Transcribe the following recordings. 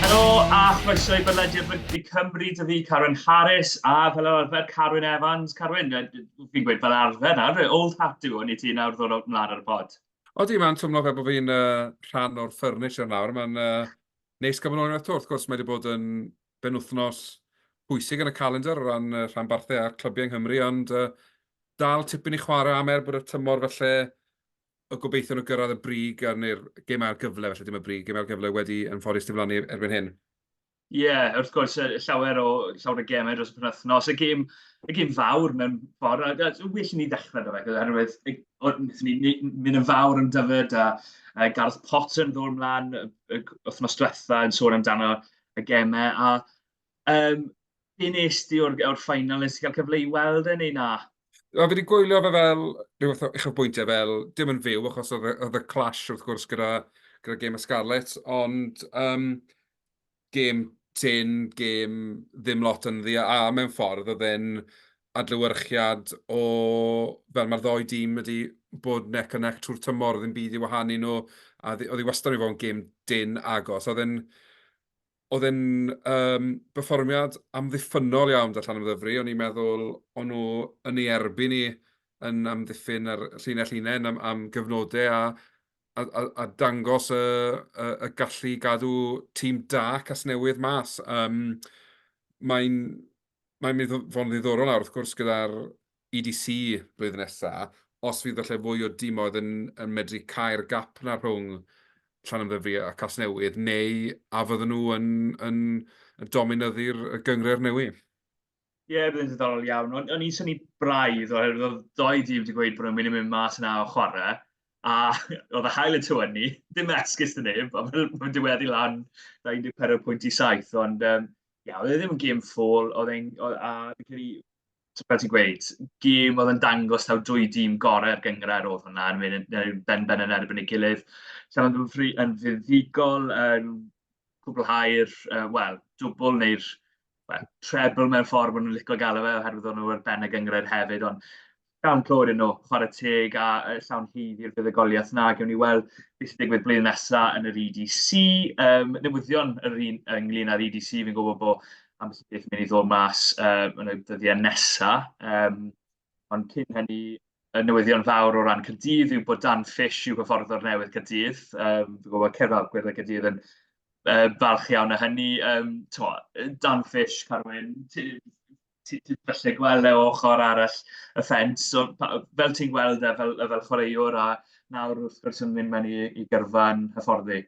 Helo a chroeso i bodlediad Rygbi Cymru, dw i Carwyn Harris a fel yr arfer Carwyn Evans. Carwyn, fi'n gweud fel arfer nawr, old hat yw hwn i ti nawr ddod o'r mlaen ar y pod. Odi, mae'n twmlo fe bod fi'n uh, rhan o'r ffyrnis yn nawr. Mae'n uh, neis gael bod yn ôl unwaith to. Wrth gwrs, mae wedi bod yn benwythnos pwysig yn y calendr o ran y rhanbarthau a'r clybiau yng Nghymru, ond uh, dal tipyn i chwarae am er bod y tymor felly y gobeithio nhw gyrraedd y brig a neu'r gêm ail gyfle, felly dim y brig, gêm ail gyfle wedi yn ffodus diflannu erbyn hyn. Ie, yeah, wrth gwrs, llawer o, llawer o gemau dros y penwthnos. Y gêm, y gêm fawr mewn ffordd, a, a well i ni ddechrau da fe, oherwydd ni mynd yn fawr yn dyfod, a, a Gareth Potter yn ddod ymlaen y wythnos diwetha yn sôn amdano y gemau, a um, be nes ti o'r, or ffainal, nes ti cael cyfle i weld e neu na? O, fi wedi gwylio fe fel rhywbeth o eich bwyntiau fel, dim yn fyw, achos oedd y clash wrth gwrs gyda, gyda gêm y Scarlet, ond um, gêm tyn, gêm ddim lot yn ddi, a mewn ffordd oedd e'n adlewyrchiad o fel mae'r ddou dîm wedi bod neck and neck trwy'r tymor, oedd dim byd i wahanu nhw, a oedd hi wastad wedi bod yn gêm dyn agos. Oedd e'n oedd e'n um, berfformiad amddiffynol iawn da Llan Ymddyfri, o'n i'n meddwl o'n nhw yn ei erbyn ni yn amddiffyn ar llinell unain am, am gyfnodau a, a, a, a dangos y, y, y gallu gadw tîm da Casnewydd mas. Um, Mae'n mae'n mynd i fod yn ddiddorol nawr, wrth gwrs, gyda'r EDC blwyddyn nesaf, os fydd falle fwy o dimoedd yn, yn medru cael gap na rhwng Llanymddyfri a Casnewydd, neu a fydden nhw yn, yn, yn dominyddu'r gyngred newydd? Ie, yeah, byddai'n ddiddorol iawn. O'n, on i'n syni braidd, oherwydd oedd doi dîm wedi gweud bod nhw'n mynd i mynd mas yna o chwarae, a oedd y hael y tywen ni, dim esgus dyn neb, a mae'n diweddu lan 24 pwynt i 7, ond um, Ie, oedd e ddim yn gêm ffôl, oedd e'n... oedd... a fi'n credu, t- fel ti'n gweud, gêm oedd yn dangos taw dwy dîm gorau'r gynghrair oedd hwnna, yn mynd yn yn benben yn erbyn ei gilydd. Llanymddyfri yn fuddugol yn cwblhau'r, uh, wel, dwbl neu'r well, treble mewn ffordd maen nhw'n licio galw fe, oherwydd o'n nhw ar ben y gynghrair hefyd, ond Dan clod yn nhw, chwarae teg a llawn hydd i'r fuddugoliaeth na gewn ni weld beth sy'n digwydd blwyddyn nesaf yn yr EDC. Um, newyddion yr un ynglyn â'r EDC, fi'n gwybod bod am beth beth mynd i ddod mas uh, yn y dyddiau nesaf. Um, ond cyn hynny, y newyddion fawr o ran Cydydd yw bod Dan Fish yw hyfforddwr newydd Cydydd. Um, fi'n gwybod Cerdded Gwyrdd Cydydd yn uh, falch iawn o hynny. Um, to, Dan Fish, Carwyn, ti, ti falle gweld e o ochr arall y ffens. So, pa, fel ti'n gweld e fel, fel chwaraewr a nawr wrth gwrs yn mynd mewn i, i gyrfa'n hyfforddi?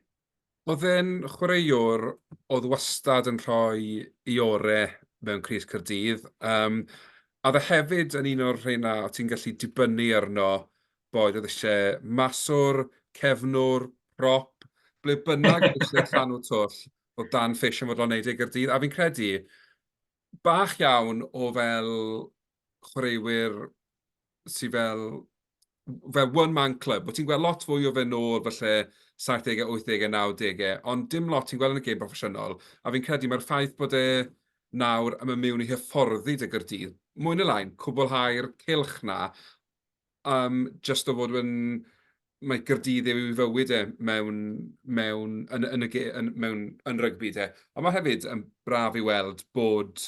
Oedd e'n chwaraewr oedd wastad yn rhoi i ore mewn Cris Cyrdydd. Um, a dde hefyd yn un o'r rheina o ti'n gallu dibynnu arno boed oedd eisiau maswr, cefnwr, prop, ble bynnag oedd eisiau llanw twll o dan ffeisiau fod o'n neud ei gyrdydd. A fi'n credu, bach iawn o fel chwaraewyr sydd fel fel one man club. Ti'n gweld lot fwy o fe nôl falle 70au, 80au, 90au, ond dim lot ti'n gweld yn y gêm proffesiynol. A fi'n credu mae'r ffaith bod e nawr yn mynd mewn i hyfforddi dy gyrdydd, mwy na lain, cwblhau'r cilch na, Am jyst o fod yn... mae Caerdydd yw ei fywyd e mewn mewn yn yn y ge- yn mewn yn rygbi de. Ond mae hefyd yn braf i weld bod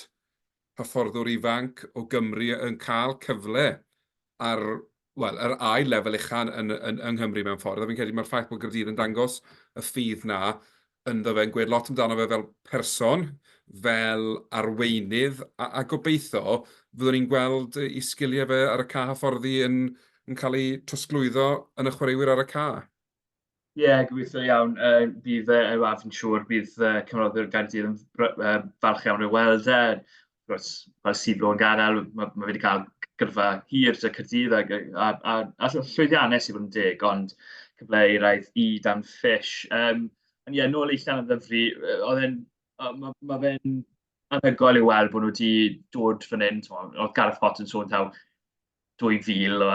hyfforddwr ifanc o Gymru yn cael cyfle ar, wel, yr ail lefel ucha' yn yn yng Nghymru mewn ffordd, a fi'n credu mae'r ffaith bod Caerdydd yn dangos y ffydd 'na ynddo fe, yn gweud lot amdano fe fel person, fel arweinydd, a, a gobeithio fyddwn ni'n gweld ei sgiliau fe ar y ca hyfforddi yn, yn cael ei trosglwyddo yn y chwaraewyr ar y ca. Ie, yeah, gobeithio iawn. Uh, bydd, uh, a fi'n siŵr, bydd uh, cyfnodwyr Gaerdydd yn uh, falch iawn ei weld e. Os oes ti ddo'n gadael, mae ma fe 'di cael gyrfa hir 'da Caerdydd ac yy a a a ll- llwyddiannus i fod yn deg, ond cyfle i raid i Dan Fish. Yym, ond ie, nôl i Llanymddyfri, yy oedd e'n yy ma' ma' fe'n anhygoel i weld bod nhw 'di dod fan hyn, timod, oedd Gareth Potts yn sôn taw 2000, o,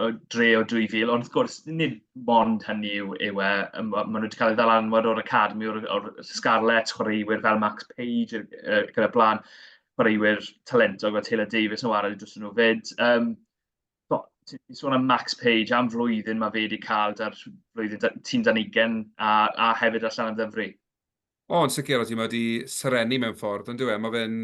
o, dre o 2000, ond wrth gwrs, nid mond hynny yw, yw e, maen nhw wedi cael ei ddal anwad o'r Academi, o'r, or Scarlets, chwaraewyr fel Max Page, uh, gyda blaen, chwaraewyr talentog fel Taylor Davis yn wario dros nhw fyd. Um, ti'n sôn am Max Page am flwyddyn mae fe wedi cael da'r flwyddyn tîm dan ugen a, a hefyd allan am ddyfru. O, yn sicr, o ti mae wedi serennu mewn ffordd, ond dwi e, mae fe'n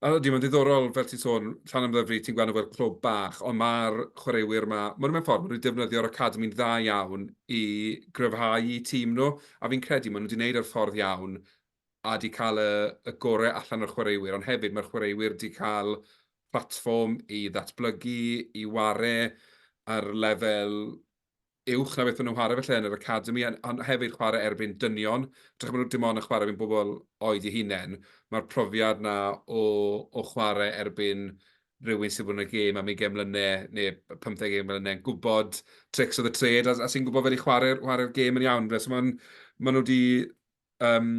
A ydy, mae'n ddiddorol, fel ti'n sôn, Llan am Ddyfri, ti'n gweld nhw fel clwb bach, ond mae'r chwaraewyr yma, maen nhw mewn ffordd, maen nhw wedi defnyddio'r academi'n dda iawn i gryfhau i tîm nhw, a fi'n credu maen nhw wedi gwneud yr ffordd iawn a wedi cael y, y gorau allan o'r chwaraewyr, ond hefyd mae'r chwaraewyr wedi cael platfform i ddatblygu, i ware ar lefel uwch na beth maen nhw'n chwarae felly yn yr academi, ond hefyd chwarae erbyn dynion. Dych maen nhw dim ond yn chwarae erbyn bobl oed i hunain. Mae'r profiad na o, o chwarae erbyn rhywun sydd wedi bod yn y gêm am 20 mlynedd neu 15 gêm mlynedd yn gwybod tricks of the trade a, a sy'n gwybod fel i chwarae'r chwarae gêm yn iawn. So maen, maen nhw wedi um,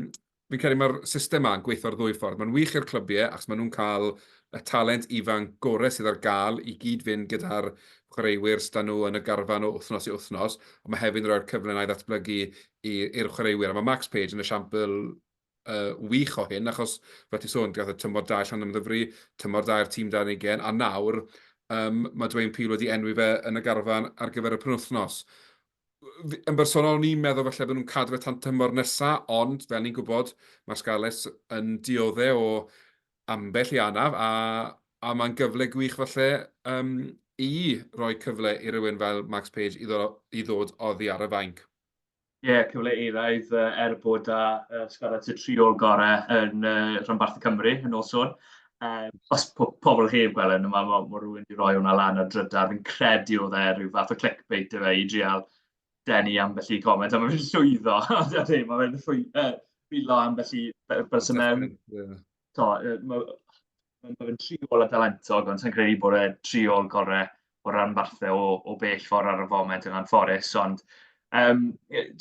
fi'n credu mae'r system ma'n gweithio'r ddwy ffordd. Mae'n wych i'r clybiau, achos maen nhw'n cael y talent ifan gorau sydd ar gael i gyd fynd gyda'r chwaraewyr sydd nhw yn y garfan o wythnos i wythnos, ond mae hefyd yn rhoi'r cyfle na i ddatblygu i'r chwaraewyr. A mae Max Page yn esiampl uh, wych o hyn, achos fel ti sôn, gath y tymor da allan am ddyfru, tymor da'r tîm da'n ei gen, a nawr um, mae Dwayne Peel wedi enwi fe yn y garfan ar gyfer y penwthnos. yn bersonol, o'n i'n meddwl falle bod nhw'n cadw fe tan tymor nesa, ond fel ni'n gwybod, mae'r Scarlets yn diodde o ambell i anaf, a, a mae'n gyfle gwych falle um, i roi cyfle i rywun fel Max Page i, ddod, i ddod oddi ar y fainc. Ie, yeah, cyfle eiraidd er bod â uh, Scarlets y triol gorau yn uh, rhanbarth y Cymru yn ôl sôn. Um, os po pobl heb gweld yn yma, mae ma rhywun wedi rhoi hwnna lan ar drydar. Fi'n credu oedd e rhyw fath o clickbait efe i drial denu ambell i comment. A mae fe'n llwyddo. mae fe'n llwyddo. Bilo ambell i bus y mewn. Mae fe'n tri ôl a dalentog, ond sy'n credu bod e tri ôl gorau o ran fathau o, o bell ffordd ar y foment yna'n fforus. Ond um,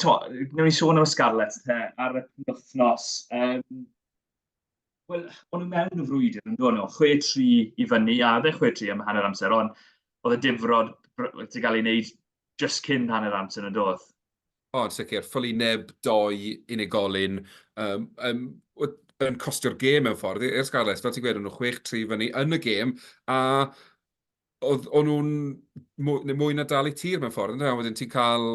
to, newn ni sôn am y Scarlets te, ar y penwthnos. Um, Wel, o'n nhw mewn y frwydr yn dod nhw, 6-3 i fyny, a oedd e 6-3 am hanner amser, ond oedd y difrod wedi cael ei wneud just cyn hanner amser yn y dodd. O, yn sicr, ffylu neb doi unigolyn um, um, yn costio'r gêm mewn ffordd i'r Scarlets, fel ti'n gweud, o'n nhw 6-3 fyny yn y gêm, a oedd o'n nhw'n mwy, mwy na dal i tir mewn ffordd, ynddo? Wedyn ti'n cael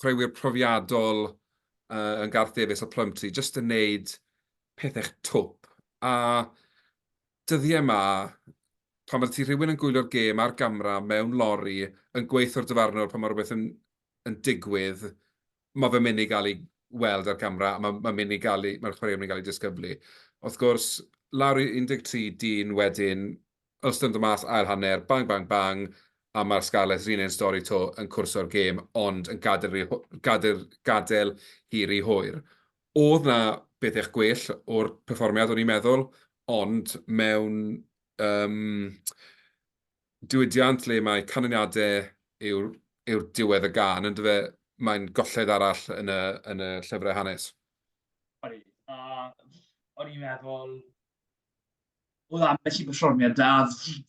chwaraewyr profiadol uh, yn Garth Davies a Plumtree, jyst yn neud pethau'ch twp. A dyddiau yma, pan fydde ti rhywun yn gwylio'r gêm ar gamera mewn lori, yn gweithio'r dyfarnwr pan mae rhywbeth yn, yn digwydd, mae fe'n mynd i gael ei weld ar gamera, a mae'n ma mynd i gael ei, mae'r chwaraewyr yn mynd i gael ei disgyblu. Wrth gwrs, lawr i 13 dyn wedyn, Yn ystod y mas ail hanner, bang bang bang a mae'r Scarlets yr un un stori 'to yn cwrso'r gêm ond yn gadael hi ry hwyr. Oedd 'na bethau gwell o'r perfformiad o'n i'n meddwl ond mewn yym diwydiant le mae canlyniadau yw'r yw'r diwedd y gân yn dyfe, mae'n golled arall yn y yn y llyfrau hanes. Odi, a o'n i'n meddwl oedd ambell i berfformiad da,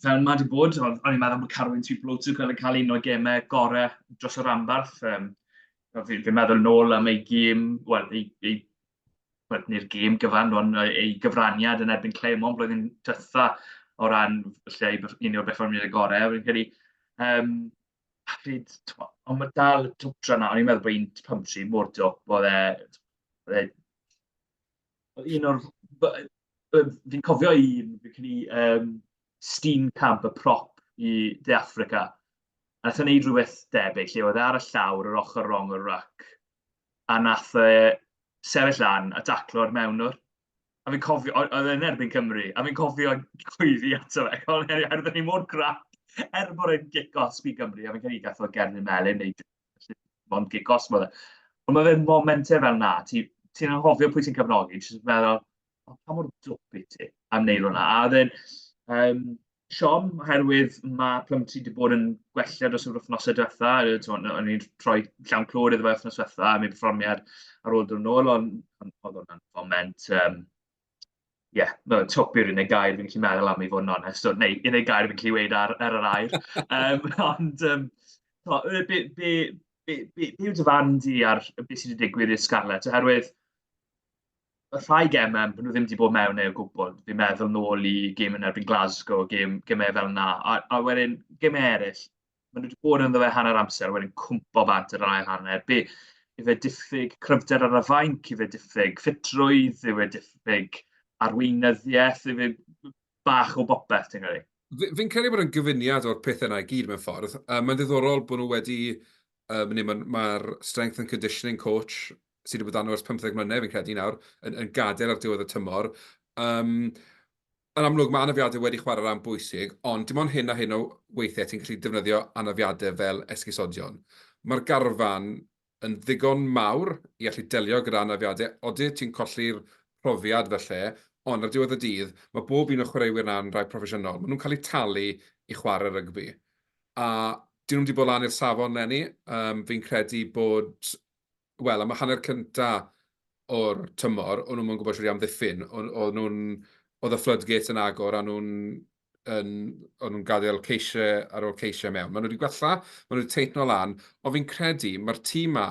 fel mae wedi bod, o'n i'n meddwl bod Carwyn Tuplotsu yn cael un o gemau gorau dros y rambarth. Um, fi'n fi meddwl nôl am ei gêm, wel, ei, ei well, neu'r gêm gyfan, ond ei gyfraniad yn erbyn Clermont blwyddyn dytha o ran lle un o'r berfformiad y gorau. Fi'n credu, um, pryd, ond mae dal y twtra na, o'n i'n meddwl bod un pymtri mor dwp, oedd e, un o'r... fi'n cofio un, fi'n credu yym Steenkamp, y prop i De Affrica. A wnaeth e wneud rhywbeth debyg lle oedd e ar y llawr yr ochr rong o'r rac a wnaeth e sefyll lan a daclo'r mewnwr. A fi'n cofio, o- oedd e'n erbyn Cymru, a fi'n cofio gweiddi ato fe, o'n i er- er- oedden ni mor grac, er bod e'n gic os by Gymru, a fi'n credu gath o Gerdyn Melin neu Felly, mae'n gig gos yma. Ond mae fe'n momentau fel na, ti'n ti anghofio pwy ti'n cyfnogi, ti'n meddwl, oh, pa mor dwp i ti am wneud hwnna. A oedd e'n um, siom, oherwydd mae Plumtree wedi bod yn gwella dros yr wythnosau diwetha, o'n i'n rhoi llawn clod iddo fe wythnos diwetha, a mi perfformiad ar ôl dod yn ôl, ond oedd hwnna'n foment um, ie, no, twp yw'r unig gair fi'n gallu meddwl am i fod yn onest, neu unig gair fi'n gallu weud ar, ar yr air. um, ond, um, to, be, be, be, be, be yw dy fan di ar beth sydd wedi digwydd i'r Scarlett? Oherwydd, y rhai gemau, maen nhw ddim wedi bod mewn ei o gwbl. Fi'n meddwl nôl i gêm yn erbyn Glasgow, gêm, gemau fel yna. A, a wedyn, gemau eraill, maen nhw wedi bod yn ddewe hanner amser, wedyn cwmpo bant yr ail hanner. Be, i fe diffyg cryfder ar y fainc, i fe diffyg ffitrwydd, i fe diffyg arweinyddiaeth, i fe bach o bopeth, ti'n credu? Fi'n credu bod yn gyfuniad o'r pethau yna i gyd mewn ffordd. Um, mae'n ddiddorol bod nhw wedi, um, neu mae'r ma strength and conditioning coach sydd wedi bod arno ers 15 mlynedd, fi'n credu nawr, yn, yn gadael ar diwedd y tymor. Um, yn amlwg mae anafiadau wedi chwarae rhan bwysig, ond dim ond hyn a hyn o weithiau ti'n gallu defnyddio anafiadau fel esgusodion. Mae'r garfan yn ddigon mawr i allu delio gyda anafiadau, oeddi ti'n colli'r profiad felly, ond ar diwedd y dydd, mae bob un o chwaraewyr na'n rhai proffesiynol. Maen nhw'n cael eu talu i chwarae rygbi. A dyn nhw'n wedi bod lan i'r safon lenni, um, fi'n credu bod wel, am y hanner cynta o'r tymor, o'n nhw'n mwyn gwybod sydd wedi amddiffyn. Oedd nhw'n, oedd y floodgates yn agor, a nhw'n yn, o'n nhw'n gadael ceisiau ar ôl ceisiau mewn. Maen nhw wedi gwella, maen nhw wedi teithno lan, ond fi'n credu mae'r tîm ma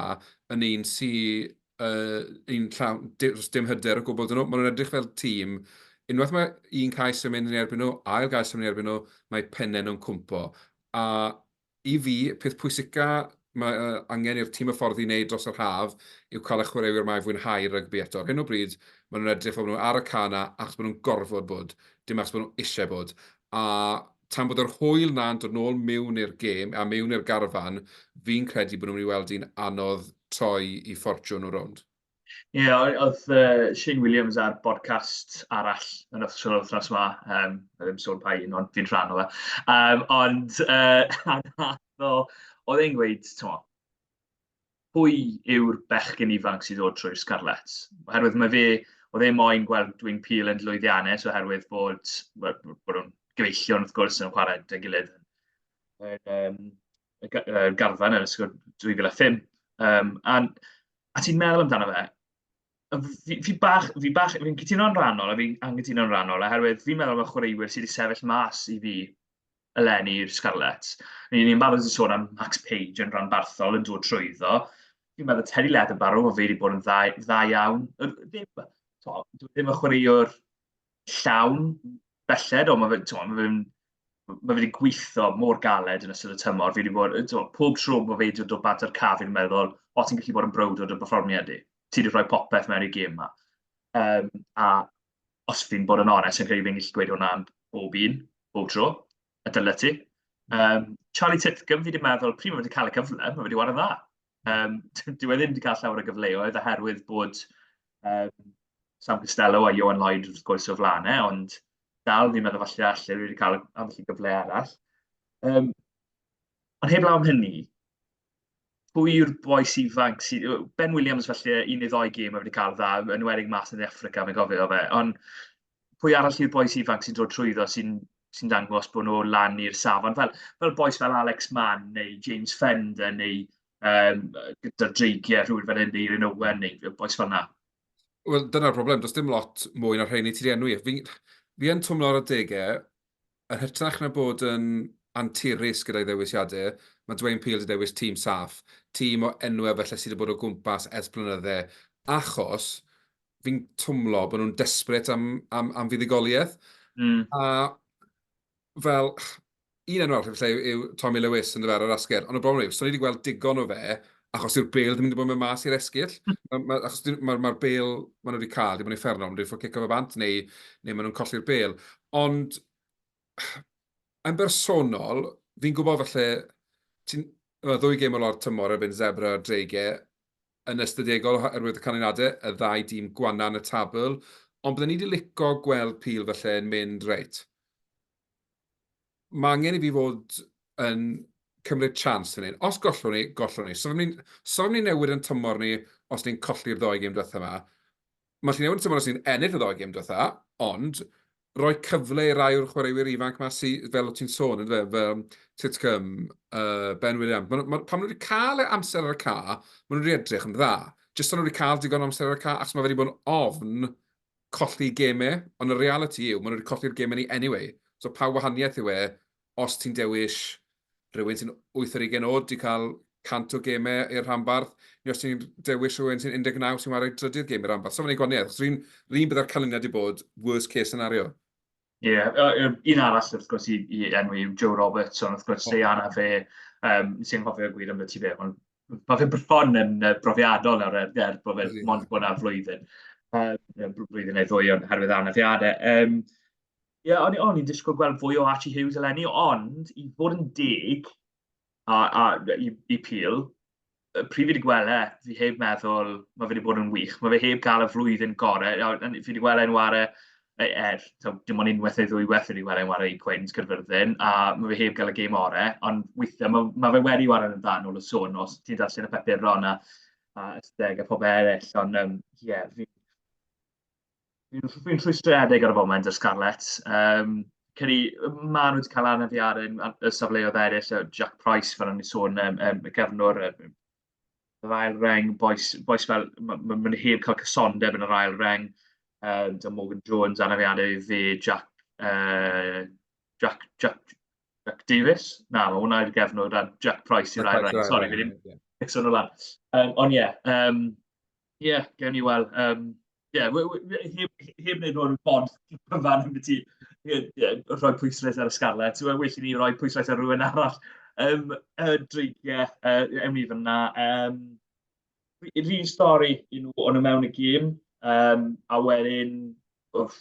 yn un sy'n uh, un llawn, dim hyder o gwbl dyn nhw. Maen nhw'n edrych fel tîm unwaith mae un cais yn mynd yn erbyn nhw, ail gais yn mynd yn erbyn nhw, mae pennau nhw'n cwmpo. A I fi, y peth pwysica mae angen i'r tîm hyfforddi wneud dros yr haf yw cael y chwaraewyr mae fwynhau rygbi eto. Ar hyn o bryd, maen nhw'n edrych fel bod nhw ar y ca 'na achos bod nhw'n gorfod bod, dim achos bod nhw eisiau bod. A tan bod yr hwyl 'na'n dod nôl miwn i'r gêm, a miwn i'r garfan, fi'n credu bod nhw'n mynd i weld hi'n anodd troi i ffortiwn nhw rownd. Ie, yeah, oedd uh, Shane Williams ar bodcast arall yn official wythnos yma, um, a ddim sôn pa un, ond fi'n rhan o fe. Um, ond uh, oedd e'n gweud, ti'n pwy yw'r bechgyn ifanc sydd ddod trwy'r Scarlets? Oherwydd mae fe, oedd e moyn gweld dwi'n pil yn lwyddiannus oherwydd bod, bod nhw'n gyfeillion wrth gwrs yn chwarae dy gilydd yn, um, y g- yy garfan yn ysgol 2005, yym, a a ti'n meddwl amdano fe, a f- fi fi bach fi bach fi'n cytuno'n rhannol a fi'n anghytuno'n rhannol oherwydd fi'n meddwl bod chwaraewyr sydd wedi sefyll mas i fi eleni i'r Scarlets. Ni ni'n barod wedi sôn am Max Page yn rhanbarthol yn dod trwyddo. Fi'n meddwl Terry Leatherbarrow, o fe wedi bod yn dda, dda iawn. Yr- Ddim, to, dwi ddim yn chwaraewr llawn belled, ond mae fe, twa, mae fe'n mae wedi gweithio mor galed yn ystod y tymor. Fi wedi bod, twa, pob tro bod fe wedi dod o bat o'r caf, fi'n meddwl, o ti'n gallu bod yn browd o dy berfformiad i. Ti wedi rhoi popeth mewn i gêm yma. Um, a os fi'n bod yn onest, yn credu fi'n gallu gweud hwnna am bob un, bob tro, y dylai ti. Um, Charlie Titcombe, fi wedi meddwl, pryd mae wedi cael y cyfle, mae wedi wario dda. Um, dwi wedi ddim wedi cael llawer o gyfleoedd oherwydd bod um, Sam Costello a Johan Lloyd wrth gwrs o flaen e, ond dal fi'n meddwl falle allu wedi cael ambell i gyfle arall. Um, ond heb lawn hynny, pwy yw'r boes ifanc sydd... Ben Williams falle un neu ddoi gêm wedi cael dda, yn wedig mas yn Africa, mae'n gofio fe, ond pwy arall yw'r boes ifanc sy'n dod trwyddo sy'n sy dangos bod nhw lan i'r safon. Fel, fel boes fel Alex Mann neu James Fender neu um, gyda dreigiau rhywun fel hyn neu Owen neu boes fel yna. Wel, dyna'r broblem. Does dim lot mwy na rheini ti'n enwi. Fi, fi yn twmlo ar y degau, yn hytrach na bod yn anturus gyda'i ddewisiadau, mae Dwayne Peel wedi dewis tîm saff, tîm o enwau felly sydd wedi bod o gwmpas ers blynydde, achos fi'n twmlo bod nhw'n desperate am, am, am fuddugoliaeth. Mm. A fel, un enw arall lle yw Tommy Lewis yn dyfer ar asger, ond y broblem yw, so ni wedi gweld digon o fe, achos yw'r bel ddim wedi bod yn mas i'r esgyll. Mae'r ma, achos ma, ma bel maen nhw wedi cael, dim ond ei fferno, ond dwi'n ffwrdd cico fe bant, neu, neu maen nhw'n colli'r bel. Ond, yn bersonol, fi'n gwybod falle, ti'n ddwy gêm o lawr tymor erbyn Zebra a Drege, yn ystadegol oherwydd y canlyniadau y ddau dîm gwana yn y tabl, ond bydden ni 'di lico gweld Peel falle yn mynd reit, mae angen i fi fod yn cymryd chance fan hyn. Os gollwn ni, gollwn ni. So ni'n so ni newid yn tymor ni os ni'n colli'r ddoi gêm diwethaf yma. Mae Llinelwyn tymor y sy'n ennill y ddoi gêm diwetha, ond roi cyfle i rai o'r chwaraewyr ifanc ma sy, fel o ti'n sôn, ynddo fe, fel Titcomb, uh, Ben Williams, ma, ma, pan nhw wedi cael e amser ar y ca, maen nhw wedi edrych yn dda. Jyst ond nhw wedi cael digon amser ar y ca, ac mae wedi bod yn ofn colli gemau, ond y reality yw, maen nhw wedi colli'r gemau ni anyway. So pa wahaniaeth yw e, os ti'n dewis rhywun sy'n 8 ar 20 oed, di cael 100 o gemau i'r rhanbarth, neu os ti'n dewis rhywun sy'n 19 sy'n wario drydydd gem i'r rhanbarth. So mae'n ei gwaniaeth, achos rhywun rhywun byddai'r canlyniad wedi bod worst case scenario. Ie, yeah, uh, un arall wrth gwrs i, i enwi yw Joe Roberts, ond wrth gwrs oh. Diana fe, um, sy'n cofio gwir am y ti fe, ond mae fe bron yn uh, brofiadol nawr er, er bod fe'n mond bod yna flwyddyn, uh, blwyddyn neu ddwy ond herwydd anafiadau. Um, Ie, yeah, o'n, o'n i'n disgwyl gweld fwy o Archie Hughes eleni, ond i fod yn deg a, a i, i Peel, pryd fi wedi gweld e, fi heb meddwl, mae fe wedi bod yn wych. Mae fe heb gael y flwyddyn gorau. Fi wedi gweld e'n ware, e, er, so, dim ond unwaith neu ddwy waith wedi gweld e'n ware i Cwins Cyrfyrddin, a mae fe heb gael y gêm ore, ond weithiau mae, mae fe wedi ware yn dda nôl y sôn os ti'n darllen y papuron a, a ysteg a pobl eraill, ond ie, um, yeah, fi Fi'n fi rhwystredig ar y foment ar Scarlets. Um, Cyn i, maen nhw wedi cael anafiad yn y safleoedd eraill, so Jack Price, fel o'n i'n sôn, um, um, y gefnwr, um, yr ail reng, boes, boes fel, mae'n ma, ma heb cael cysondeb yn yr ail reng, um, da Morgan Jones, anafiadau i fi, Jack, uh, Jack, Jack, Jack Davis, na, mae hwnna i'r gefnwr, da Jack Price i'r ail reng, sori, fi ddim, yeah. o'n lan. Um, ond ie, yeah, um, Ie, yeah, gawn ni weld. Um, yeah, heb wneud o'r bod cyfan yn byd rhoi pwysles ar y Scarlets. Wel, well i ni roi pwysles ar rhywun arall. Um, y dreigiau, uh, ewn ni fyna. Um, Rhy'n stori i nhw o'n y mewn y gym, um, a wedyn, wff,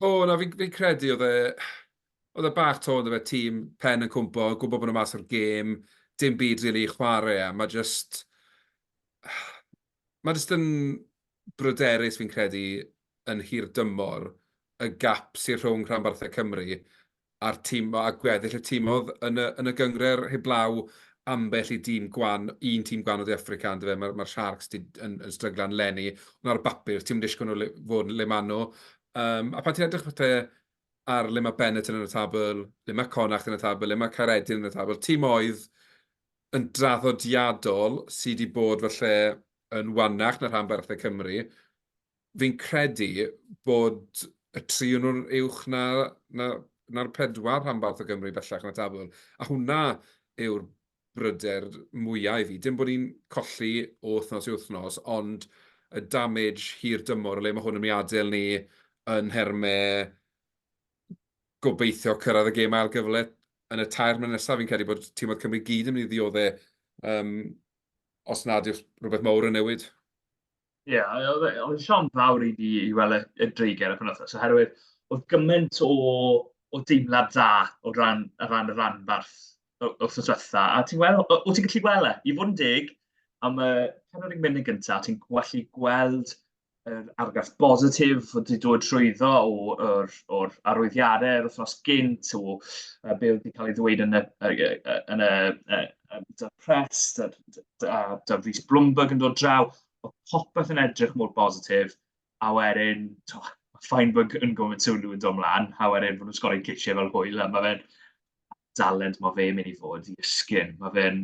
O na fi'n fi'n credu oedd e oedd e bach 'to on'd yfe tîm pen yn cwmpo gwbo bo nhw mas o'r gêm dim byd rili i chware a ma' jyst ma' jyst yn bryderus fi'n credu yn hirdymor y gap sy rhwng rhanbarthau Cymru a'r tîm, a gweddill y tîm oedd yn y, yn y gyngre'r heblaw ambell i dîm gwan, un tîm gwan o De Africa, ond fe, mae'r ma Sharks di, yn, yn stryglan lenni, ond ar y bapur, ti'n mynd eisiau nhw le, fod le maen nhw. Um, a pan ti'n edrych pethau ar le mae Bennett yn y tabl, le mae Connacht yn y tabl, le mae Caredin yn y tabl, tîm oedd yn draddodiadol sydd wedi bod falle yn wannach na rhan barthau Cymru, fi'n credu bod y tri o nhw'n uwch na, na, na'r pedwar rhanbarth o Gymru bellach na tabl. A hwnna yw'r bryder mwyaf i fi. Dim bod ni'n colli o wythnos i wythnos, ond y damage hir dymor, o le mae hwn yn mynd i adael ni yn nhermau gobeithio cyrraedd y gêm ail gyfle yn y tair mlynedd nesaf, fi'n credu bod tîm oedd Cymru gyd yn mynd i ddioddau um, os nad yw'r rhywbeth mawr yn newid. Ie, yeah, oedd e, e siom fawr i ni i weld y, y dreigiau y penwthnos, oherwydd oedd gymaint o, o deimlad dda o ran, o ran y ranbarth wrth y diwetha. A ti'n gweld, o, o ti'n gallu gweld e, i fod yn dig, am y penod yn mynd yn gyntaf, ti'n gallu gweld yr argraff bositif oedd wedi dod trwyddo o'r, or arwyddiadau yr wythnos gynt, o uh, be oedd wedi cael ei ddweud yn y, yn y, yn y, um, da Press, da, da, da Rhys Bloomberg yn dod draw, oedd popeth yn edrych mor bositif, a wedyn, to, Feinberg yn gofyn sylw yn dod mlaen, a wedyn bod nhw'n sgorau cisiau fel hwyl, a mae fe'n dalent mae fe'n mynd i fod i ysgyn. Mae fe'n,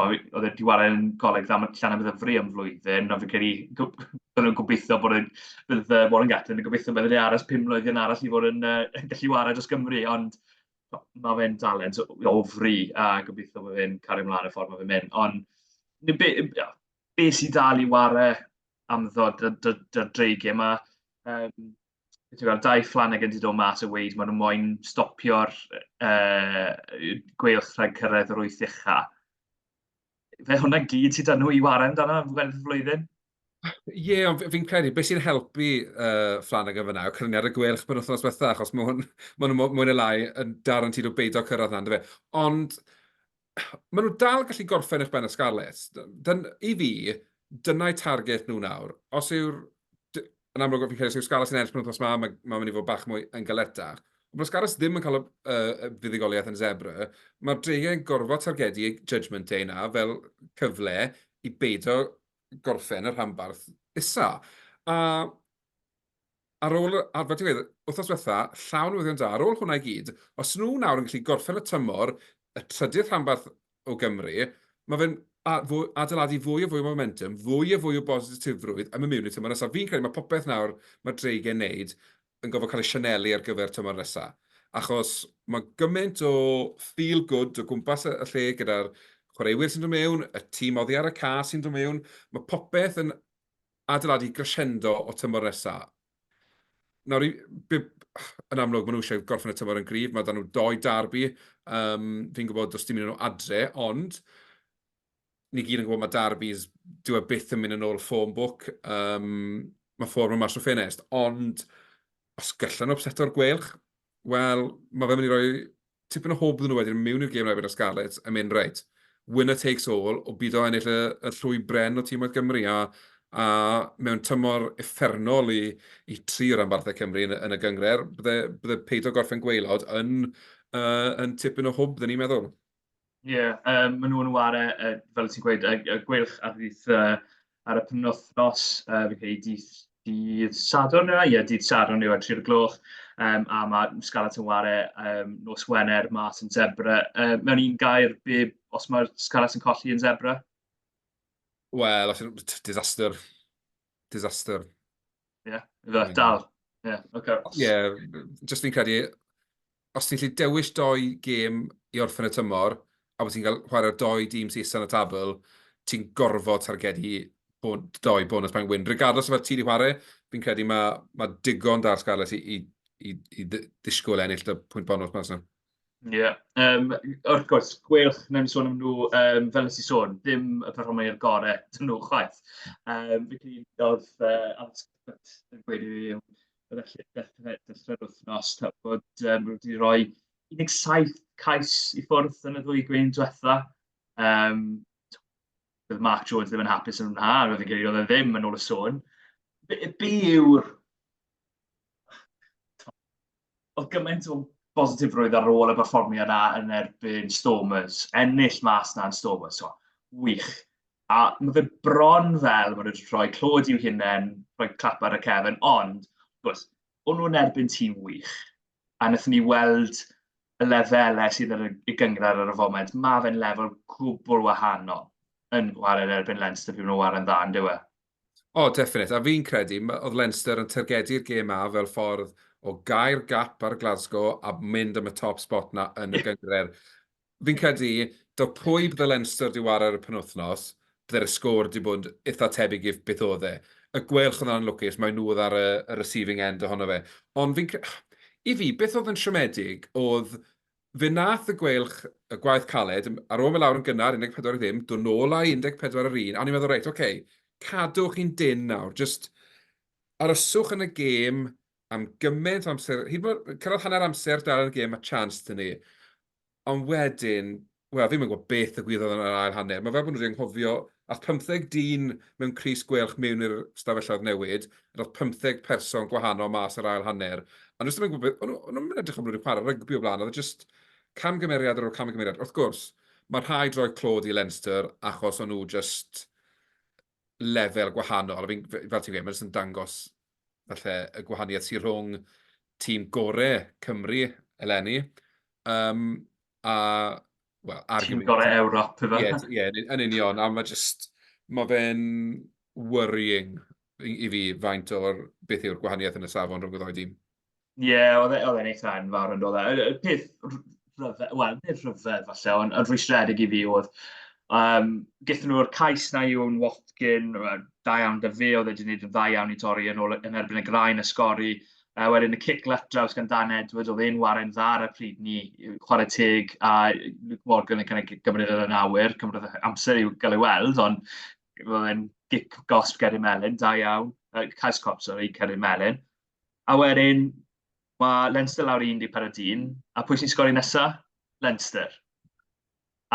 oedd e wedi wario yn goleg dda, mae llan am ddyfru am flwyddyn, a fi'n credu, byddwn nhw'n gobeithio bod yn, bydd Warren Gatlin yn gobeithio bod yn aros pum mlynedd yn arall i fod yn uh, gallu wario dros Gymru, ond mae fe'n dalent o fri, a gobeithio bod fe'n cario ymlaen y ffordd mae fe'n mynd. Ond be, be, be sy'n dal i ware am ddod y dreigiau yma? Um, Ti'n gweld, dau Flanagan wedi dod mas a weid, maen nhw moyn stopio'r uh, gweilch rhag cyrraedd yr wyth uchaf. Fe hwnna gyd sydd dan nhw i ware amdano am flwyddyn? Ie, ond f- fi'n credu beth sy'n helpu uh, Flanagan fyna yw cyfraniad y gweilch pen wythnos bethau, achos mae hwn, ma nhw mwy neu lai yn dar yn tyd o beidio cyrraedd na, fe. Ond maen nhw dal gallu gorffen eich ben y Scarlets. Dyn, I fi, dyna'i target nhw nawr. Os yw'r... Yn amlwg, fi'n credu, os yw'r Scarlets yn ennill pen wythnos yma, mae'n ma mynd i fod bach mwy yn galetach. Ond mae'r Scarlets ddim yn cael y uh, fuddugoliaeth yn zebra. Mae'r dreigiau yn gorfod targedu Judgment Day na fel cyfle i beidio gorffen y rhanbarth isa. A ar ôl, ar fel ti'n gweud, wythnos diwetha, llawn newyddion da, ar ôl hwnna i gyd, os nhw nawr yn gallu gorffen y tymor, y trydydd rhanbarth o Gymru, mae fe'n adeiladu fwy o fwy o momentum, fwy o fwy o bositifrwydd am y mewn i tymor nesaf. Fi'n credu mae popeth nawr mae Dreigen wneud yn gorfod cael ei sianelu ar gyfer tymor nesa. Achos mae gymaint o feel good o gwmpas y lle gyda'r chwaraewyr sy'n dod mewn, y tîm oddi ar y ca sy'n dod mewn, mae popeth yn adeiladu crescendo o tymor nesa. Nawr, yn amlwg, maen nhw eisiau gorffen y tymor yn gryf, mae dan nhw doi darbi, um, fi'n gwybod does dim un nhw adre, ond ni gyd yn gwybod mae Darby's, dyw e byth yn mynd yn ôl ffôn bwc, um, mae ffôn yn mas o ffinest, ond os gallan nhw seto'r gwelch, wel, mae fe'n mynd i roi tipyn o hwb nhw wedyn mewn i'r gêm rhaid y Scarlets yn mynd reit. Winner takes all, o byd o ennill y, y llwy bren o tîm oedd Gymru, a, a mewn tymor effernol i, i tri o ranbarthau Cymru yn, yn y gyngred, bydde, bydde peidio gorffen gweilod yn, uh, yn tipyn o hwb, dyn ni'n meddwl. Ie, um, maen nhw'n ware, uh, fel ti'n gweud, y, y gwylch ar ddydd uh, ar y penwthnos, uh, fi'n credu dydd, dydd Sadwrn yna, ie, dydd Sadwrn yw ar 3 gloch, um, a mae Scarlett yn ware um, nos Wener mas yn Zebra. Uh, mewn un gair, be, os mae Scarlett yn colli yn Zebra? Wel, os yw'n disaster disaster. Ie, yeah, fe, dal. Ie, yeah, oce. Okay. Ie, yeah, just fi'n credu, os ti'n lli dewis doi gêm i orffen y tymor, a bod ti'n cael chwarae'r doi dîm sy'n isan y tabl, ti'n gorfod targedu bon, doi bonus pan wyn. Regardless o fel ti wedi chwarae, fi'n credu mae ma digon da'r Scarlets i, i, i, i ddisgwyl ennill y pwynt bonus mas yna. Ie yym wrth gwrs gweilch, wnawn ni sôn am nhw yym fel wnes i sôn, ddim y perfformwyr gorau dyn nhw chwaith. Yym felly oedd yy Alex Cuthbert yn gweud i fi yn y lle dechrau dechrau'r wythnos ta, bod yym nhw wedi rhoi 17 cais i ffwrdd yn y ddwy gwyn diwetha. Yym bydd Mark Jones ddim yn hapus yn hwnna, a fi'n credu oedd e ddim yn ôl y sôn. Be, be yw'r Oedd gymaint o bositifrwydd ar ôl y perfformiad na yn erbyn Stormers, ennill mas na yn Stormers, so, wych. A mae fe bron fel maen nhw wedi rhoi clod i'w hunain, rhoi clap ar y cefn, ond, gwrs, o'n nhw'n erbyn tîm wych. A wnaethon ni weld y lefelau sydd yn y gyngrair ar y foment, mae fe'n lefel gwbl wahanol yn gwared erbyn Leinster pryd maen nhw'n ware'n dda, yn dyw e? O, definite. A fi'n credu, oedd Leinster yn targedu'r gêm ma fel ffordd o gair gap ar Glasgow a mynd am y top spot na yn y gyngred. Fi'n credu, do pwy bydde Leinster di war ar y penwthnos, bydde'r sgôr di bod eitha tebyg i beth oedd e. Y gwelch oedd yn lwcus, mae nhw oedd ar y, y receiving end ohono fe. Ond fi'n credu, i fi, beth oedd yn siomedig oedd Fe wnaeth y Gweilch y gwaith caled, ar ôl mynd lawr yn gynnar 14 i ddim, dod nôl â 14 ar yr un, a o'n i'n meddwl, reit, oce, cadw chi'n dynn nawr, jyst aroswch yn y gêm am gymaint o amser, hyd yn oed cyrraedd hanner amser dal yn y gêm, mae chance dyn ni. Ond wedyn, wel, fi'm yn gwybod beth y gwyddoedd yn yr ail hanner. Mae fel bod nhw wedi anghofio Aeth pymtheg dyn mewn crys gwelch mewn i'r stafelloedd newid, a daeth pymtheg person gwahanol mas yr ail hanner, a nhw jyst ddim yn gwybod beth, o'n nhw ddim yn edrych am nhw wedi chwarae rygbi o blaen, oedd e jyst camgymeriad ar ôl camgymeriad. Wrth gwrs, mae rhaid rhoi clod i Leinster achos o'n nhw jyst lefel gwahanol, a fi'n, fel ti'n gweud, mae'n jyst yn dangos falle y gwahaniaeth sy'n rhwng tîm gore Cymru eleni, um, a, wel, ar Tîm gorau Ewrop, efe? Ie, d- ie, yn- yn union, a mae just, mae fe'n worrying i, i fi faint o'r, beth yw'r gwahaniaeth yn y safon rhwng y ddau dîm. Ie, oedd e- oedd e'n eitha enfawr yn dod. Y y peth r- rhyfedd, wel, nid rhyfedd falle, ond yn rhwystredig i fi oedd, um, gyda nhw'r cais na yw'n Watkin, wel, da iawn da fe, oedd e wedi gwneud yn dda iawn i torri yn, ôl, yn erbyn y graen a sgori, A wedyn y cic lat draws gan Dan Edwards, oedd e'n waren dda ar y pryd ni, chwarae teg, a Luke Morgan yn cynnig gymryd yn awyr, cymryd amser i'w gael ei weld, ond oedd e'n gic gosb Ceri Melin, da iawn, uh, cais cop, sorry, Ceri Melin. A wedyn, mae Leinster lawr i 14 dyn, a pwy sy'n sgori nesa? Leinster.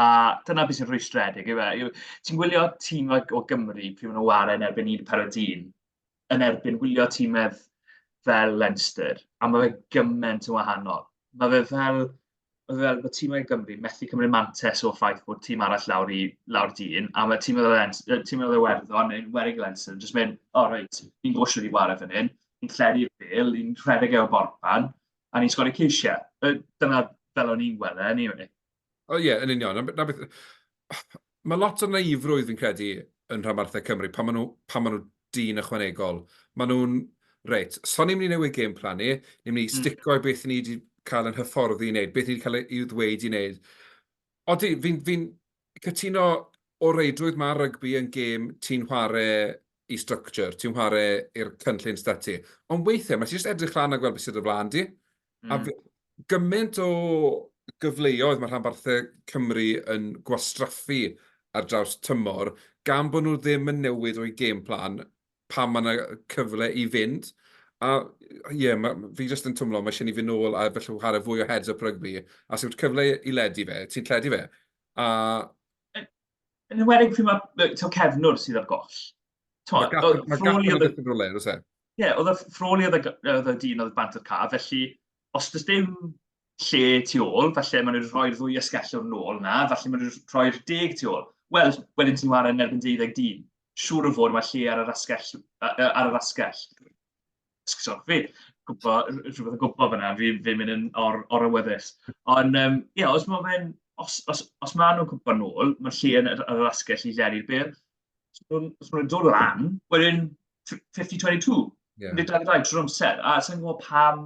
A dyna beth sy'n rhwystredig, yw e? Ti'n gwylio tîm o Gymru pryd maen nhw'n waren erbyn 14 dyn, yn erbyn wylio tîmedd fel Leinster, a mae fe gymaint yn wahanol. Mae fe fel, mae fe fel bod tîmau Gymru methu cymryd mantes o ffaith bod tîm arall lawr i lawr dyn, a mae tîm oedd Leinster, tîm oedd Iwerddon yn werig Leinster, jyst mynd, o oh, reit, ni'n gwybod sydd wedi wario fan hyn, ni'n lledu'r bel, ni'n rhedeg efo'r borpan, a ni'n sgori ceisiau. Dyna fel o'n i'n gweld e, anyway. O ie, yn union. Na, na beth... Mae lot o naifrwydd fi'n credu yn rhanbarthau Cymru, pan maen nhw, pan maen nhw dyn ychwanegol. Maen nhw'n, reit, so ni'n mynd i newid game plan ni, ni'n mynd i hmm. stico i beth ni wedi cael yn hyfforddi i wneud, beth ni wedi cael ei ddweud i wneud. Odi, fi'n fi, fi cytuno o reidrwydd mae rygbi yn gêm ti'n chwarae i structure, ti'n chwarae i'r cynllun stati. Ond weithiau, mae ti jyst edrych lan a gweld beth sydd y flaen di. Mm. A gymaint o gyfleoedd mae rhanbarthau Cymru yn gwastraffu ar draws tymor, gan bod nhw ddim yn newid o'i game plan pan mae yna cyfle i fynd. A ie, yeah, ma, fi jyst yn twmlo, mae eisiau ni fynd nôl a felly chwarae fwy o heads up rygbi. A sy'n cyfle i ledu fe, ti'n lledu fe. A... Yn ymwedig pryd mae cefnwr sydd ar goll. Mae gap yn y yn rhywle, oes e? Ie, oedd y ffroli oedd y dyn oedd bant o'r caf, felly os does dim lle tu ôl, falle maen nhw'n rhoi'r ddwy ysgellwr nôl na, falle maen nhw'n rhoi'r deg tu ôl. Wel, wedyn ti'n wario yn erbyn 12 dyn. Siŵr o fod mae lle ar yr asgell. Ar yr asgell. Sgwrsio, fi, gwybod, rhywbeth yn gwybod fyna, fi, fi'n mynd yn or, or awyddus. Ond, um, ie, yeah, os mae fe'n, os, os, os maen nhw'n cwpan nôl, mae lle yn yr asgell i lenni'r byr. So, so nhw'n dod lan, wedyn 50-22. Yeah. Nid dau ddau trwy'r amser, a sy'n gwybod pam...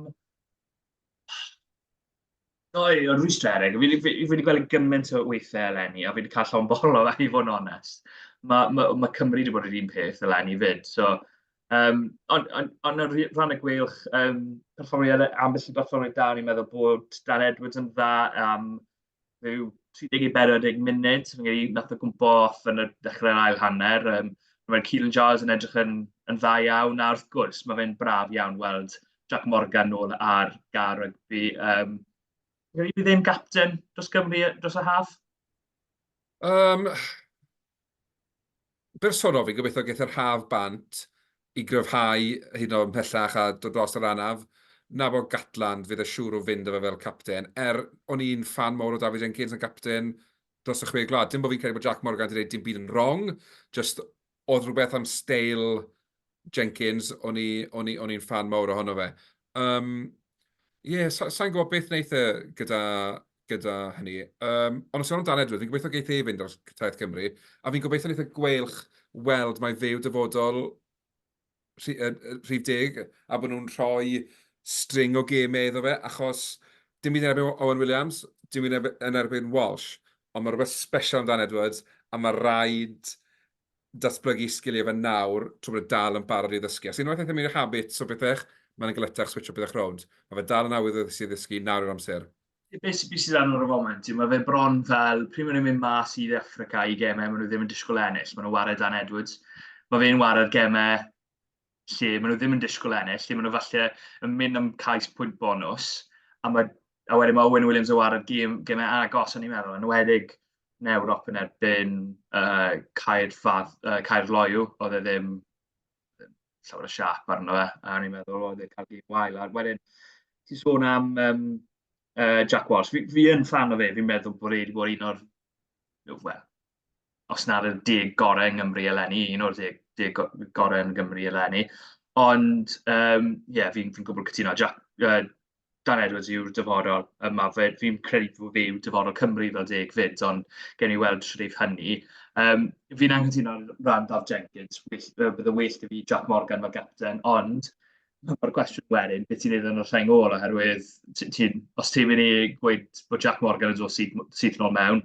Doi, o'n rwystredig. Fi wedi gweld gymaint o weithiau eleni, a fi wedi cael llawn bol o i fod yn onest. Mae ma, ma Cymru wedi bod yr un peth eleni fyd. So, um, ond on, on, on rhan y gweilch, um, perfformiad, ambell i berfformiad da, ni'n meddwl bod Dan Edwards yn dda, um, rhyw 30 i 40 munud, fi'n gwneud, nath o gwmpo off yn y dechrau'r ail hanner. Um, Mae'r Keelan Giles yn edrych yn, yn dda iawn, a wrth gwrs, mae fe'n braf iawn weld Jack Morgan nôl ar gar rygbi. Um, Rwy'n ddim captain dros Gymru dros y haf? Um, bersonol, fi'n gobeithio geith yr haf bant i gryfhau hyd yn oed ymhellach a dod dros yr anaf. Na bod Gatland, fydd e siŵr o fynd â fe fel capten. Er, o'n i'n ffan mawr o David Jenkins yn capten dros y Chwe Gwlad. Dim bod fi'n credu bod Jac Morgan wedi gwneud dim byd yn wrong, jyst oedd rhywbeth am steil Jenkins, o'n i, o'n i, o'n i'n fan mawr ohono fe. Um, yeah, sa, sa'n gwybod beth wneud e gyda, gyda hynny. Um, ond os yw'n dan Edward, fi'n gobeithio geith ei fynd ar Taith Cymru, a fi'n gobeithio wneud y e gweilch weld mae fe'w dyfodol rhif deg, a bod nhw'n rhoi string o gemau iddo fe, achos dim byd yn erbyn Owen Williams, dim byd yn erbyn Walsh, ond mae rhywbeth special amdan Edwards, a mae rhaid datblygu sgiliau fe nawr tra bod e dal yn barod i ddysgu. Os unwaith eithaf mewn i habits o bethau, mae'n yn galetach switsio pethau rownd. Mae fe dal yn awyddus i ddysgu, nawr yw'r amser. Be sydd bwysig arno ar y foment yw mae fe bron fel pryd maen nhw'n mynd mas i De Affrica i gemau maen nhw ddim yn disgwyl ennill, maen nhw'n ware Dan Edwards. Mae fe'n ware'r gemau lle maen nhw ddim yn disgwyl ennill, lle maen nhw falle yn mynd am cais pwynt bonus, a, mae, a wedyn mae Owen Williams o ar y gym, gymau agos, o'n i'n meddwl, yn wedig yn Ewrop yn erbyn uh, Caer, Fad, uh, Caer Loiw, oedd e ddim llawer o siap arno fe, a o'n i'n meddwl oedd e cael gym wael. A wedyn, ti'n sôn am um, uh, Jack Walsh, fi, fi yn fan o fe, fi'n meddwl bod e wedi bod un o'r, well, os nad yw'r deg gorau yng Nghymru eleni, un o'r deg, deg gorau yn Gymru eleni. Ond, ie, um, yeah, fi'n fi gwybod cytuno. Jack, uh, Dan Edwards yw'r dyfodol yma. Fi'n credu bod fe yw dyfodol Cymru fel deg fyd, ond gen i weld sut eith hynny. Um, fi'n anghytuno ran Daf Jenkins, bydd y well i fi Jack Morgan fel gapten, ond mae'r cwestiwn wedyn, beth ti'n neud yn y rheng ôl, oherwydd ti, os ti'n mynd i gweud bod Jack Morgan yn dod syth, syth nôl mewn,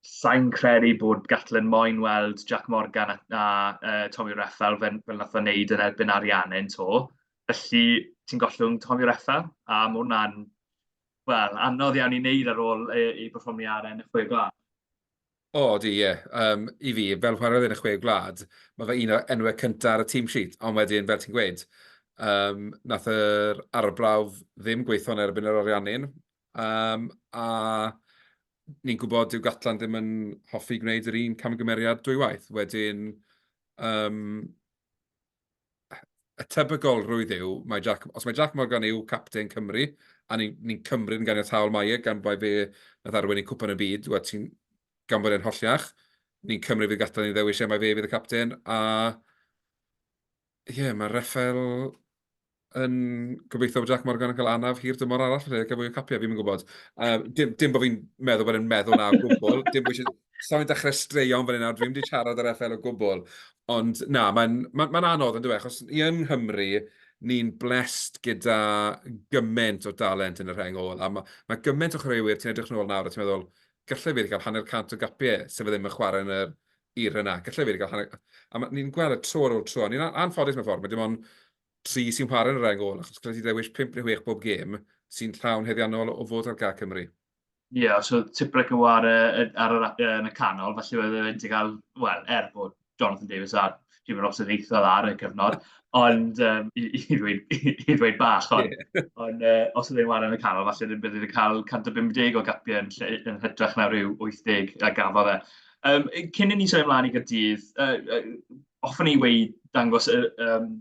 Sain credu bod Gatlin moyn weld Jac Morgan a, a uh, Tommy Reffel fel, fel nath o wneud yn erbyn Ariannin to. Felly, ti'n gollwng Tommy Reffel, a mae hwnna'n, wel, anodd iawn i wneud ar ôl ei, ei berfformiad yn y chwe gwlad. O, oh, di, ie. Yeah. Um, I fi, fel chwarae yn y chwe gwlad, mae fe un o enwau cyntaf ar y tîm sheet, ond wedyn, fel ti'n gweud, um, nath yr arbrawf ddim gweithio'n erbyn yr Ariannin, um, a ni'n gwybod dyw Gatland ddim yn hoffi gwneud yr un camgymeriad dwywaith. Wedyn, um, y tebygol rwydd yw, mae Jack, os mae Jack Morgan yw captain Cymru, a ni'n ni, ni cymryd yn ganiataol mae e, gan bod fe na ddarwen i cwpan y byd, wed, ti'n gan bod e'n holliach, ni'n cymryd fydd Gatland i ddewis e, mae fe fydd y captain, a ie, mae Rafael yn gobeithio bod Jac Morgan yn cael anaf hir dymor arall rhedeg a fwy o capiau, fi'n gwybod. Uh, dim, dim bod fi'n meddwl bod e'n meddwl na o gwbl, dim bod Sa'n fi'n dechrau straeon fan hyn nawr, dwi'n mynd i siarad ar FL o gwbl. Ond na, mae'n ma, ma anodd yn dweud, achos i yng Nghymru, ni'n blessed gyda gymaint o dalent yn y rheng ôl. A mae ma gymaint o chwaraewyr, ti'n edrych yn ôl nawr a ti'n meddwl, gallai fi wedi cael hanner cant o gapiau sef ddim yn chwarae yn y i'r yna. Gallai wedi cael hanner... A ma, ni'n gweld y tro ar ôl tro, a ni'n anffodus mewn ffordd, mae dim ond tri sy'n chwarae yn yr ail gol, achos gallai ti ddewis pimp neu chwech bob gêm sy'n llawn heddiannol o fod ar gag Cymru. Ie, yeah, os oedd Tipuric yn war ar yr, yn y canol, felly oedd e'n wedi cael, wel, er bod Jonathan Davies a dwi'n meddwl sy'n eithaf ar y cyfnod, ond um, i, i, ddweud, i, i ddweud bach, ond, yeah. on, uh, os ydyn nhw'n yn y canol, falle ddim bydd yn cael 150 o gapiau yn, lle, yn hytrach na rhyw 80 a gafodd e. Um, cyn i ni sôn ymlaen i gydydd, uh, uh, ofyn i wei dangos y um,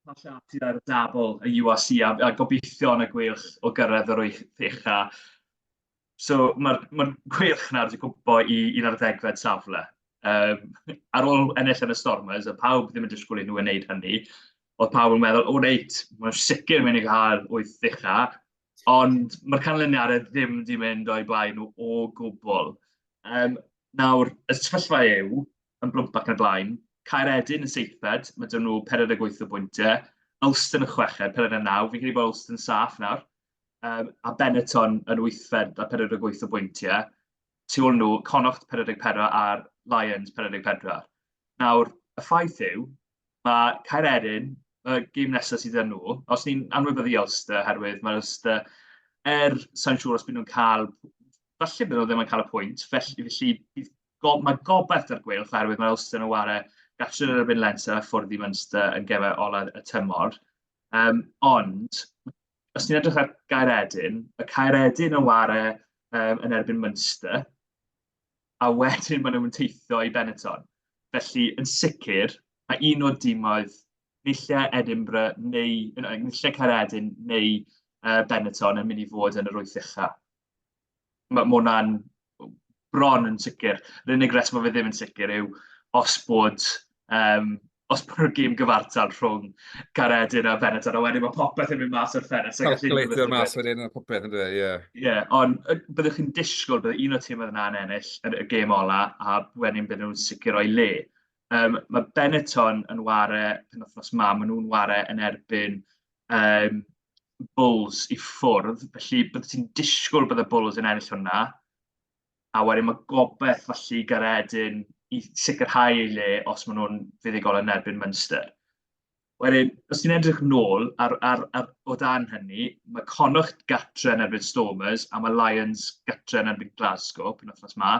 pasiatiad ar y dabl y UAC a, a gobeithio yn y gweilch o gyrraedd yr wyth eich a So mae'r ma gweilch nawr wedi cwmpo i'n ar ddegfed safle. Um, ar ôl ennill yn y Stormers, a pawb ddim yn disgwyl i nhw wneud hynny, oedd pawb yn meddwl, o reit, mae'n sicr mynd i gael wyth ddicha, ond mae'r canlyniadau ddim wedi mynd o'i blaen nhw o gwbl. Um, nawr, y sefyllfa yw, yn blwmp ac yn y blaen, Caer Edyn yn seithfed, mae dyn nhw 48 o bwyntiau, Ulster yn chweched, 49, fi'n credu bod Ulster yn saff nawr, um, a Benetton yn wythfed a 48 o bwyntiau. Tu ôl nhw, Connacht 44 a'r Lions 44. Nawr, y ffaith yw, mae Caer Erin, y gym nesaf sydd yn nhw, os ni'n anwybyddu Ulster, herwydd mae Ulster, er sa'n siŵr os byd nhw'n cael, falle byd nhw ddim yn cael y pwynt, felly, felly bydd go, mae gobaith ar gweilch oherwydd mae Ulster yn ware gallu yn erbyn Leinster a ffwrdd i Munster yn gefau olaf y tymor. Um, ond os ti'n edrych ar Gaeredin, y Caeredin yn ware um, yn erbyn Munster, a wedyn maen nhw'n teithio i Benetton. Felly, yn sicr, mae un o'r dimoedd nillau Edinburgh neu nillau Caeredin neu uh, Benetton yn mynd i fod yn yr wyth ucha. mae hwnna'n bron yn sicr. Yr unig reswm mae fe ddim yn sicr yw os bod, um, os bod y gêm gyfartal rhwng Caredin a Benetton, a wedyn mae popeth yn mynd mas o'r ffenest. Calculator mas wedyn a popeth yn dweud, ie. Yeah. Ie, yeah, ond byddwch chi'n disgwyl bydd un o tîm oedd yna'n ennill yn y gêm ola, a wedyn bydd nhw'n sicr o'i le. Um, mae Benetton yn ware, pen othnos ma, maen nhw'n ware yn erbyn yym Bulls i ffwrdd, felly byddet ti'n disgwyl bod y Bulls yn ennill hwnna. A wedyn mae gobaith falle i Garedin i sicrhau ei le os maen nhw'n fuddugol yn erbyn Munster. Wedyn, os ti'n edrych nôl ar, ar, ar, o dan hynny, mae Connacht gatre yn erbyn Stormers a mae Lions gatre yn erbyn Glasgow pen wythnos ma.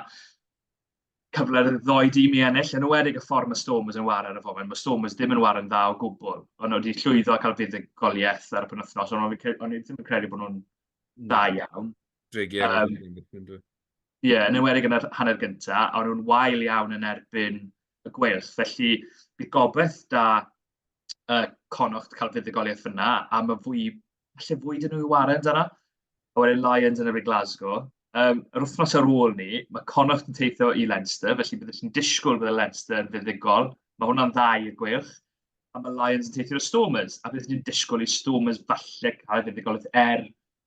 cyfle i'r ddoi dîm i ennill, yn enwedig y ffordd mae Stormers yn wario ar y foment. Mae Stormers ddim yn wario'n dda o gwbl. Ond nhw wedi llwyddo a cael fuddugoliaeth ar y penwythnos, ond o'n i ddim yn credu bod nhw'n dda hmm. iawn. Drig iawn. Um, Ie, yeah, yn enwedig yn yr hanner gyntaf, a nhw'n wael iawn yn erbyn y gweilch. Felly, bydd gobeith da uh, Conocht cael fuddugoliaeth yna, a mae fwy falle fwy dyn nhw i waren dyna. A wedyn Lions yn efo'r Glasgow. Um, yr wythnos ar ôl ni, mae Connacht yn teithio i Leinster, felly byddwch chi'n disgwyl bydd y Leinster yn fuddigol. Mae hwnna'n dda i'r gweilch. A mae Lions yn teithio y Stormers, a byddwch chi'n disgwyl i Stormers falle cael fuddigolaeth er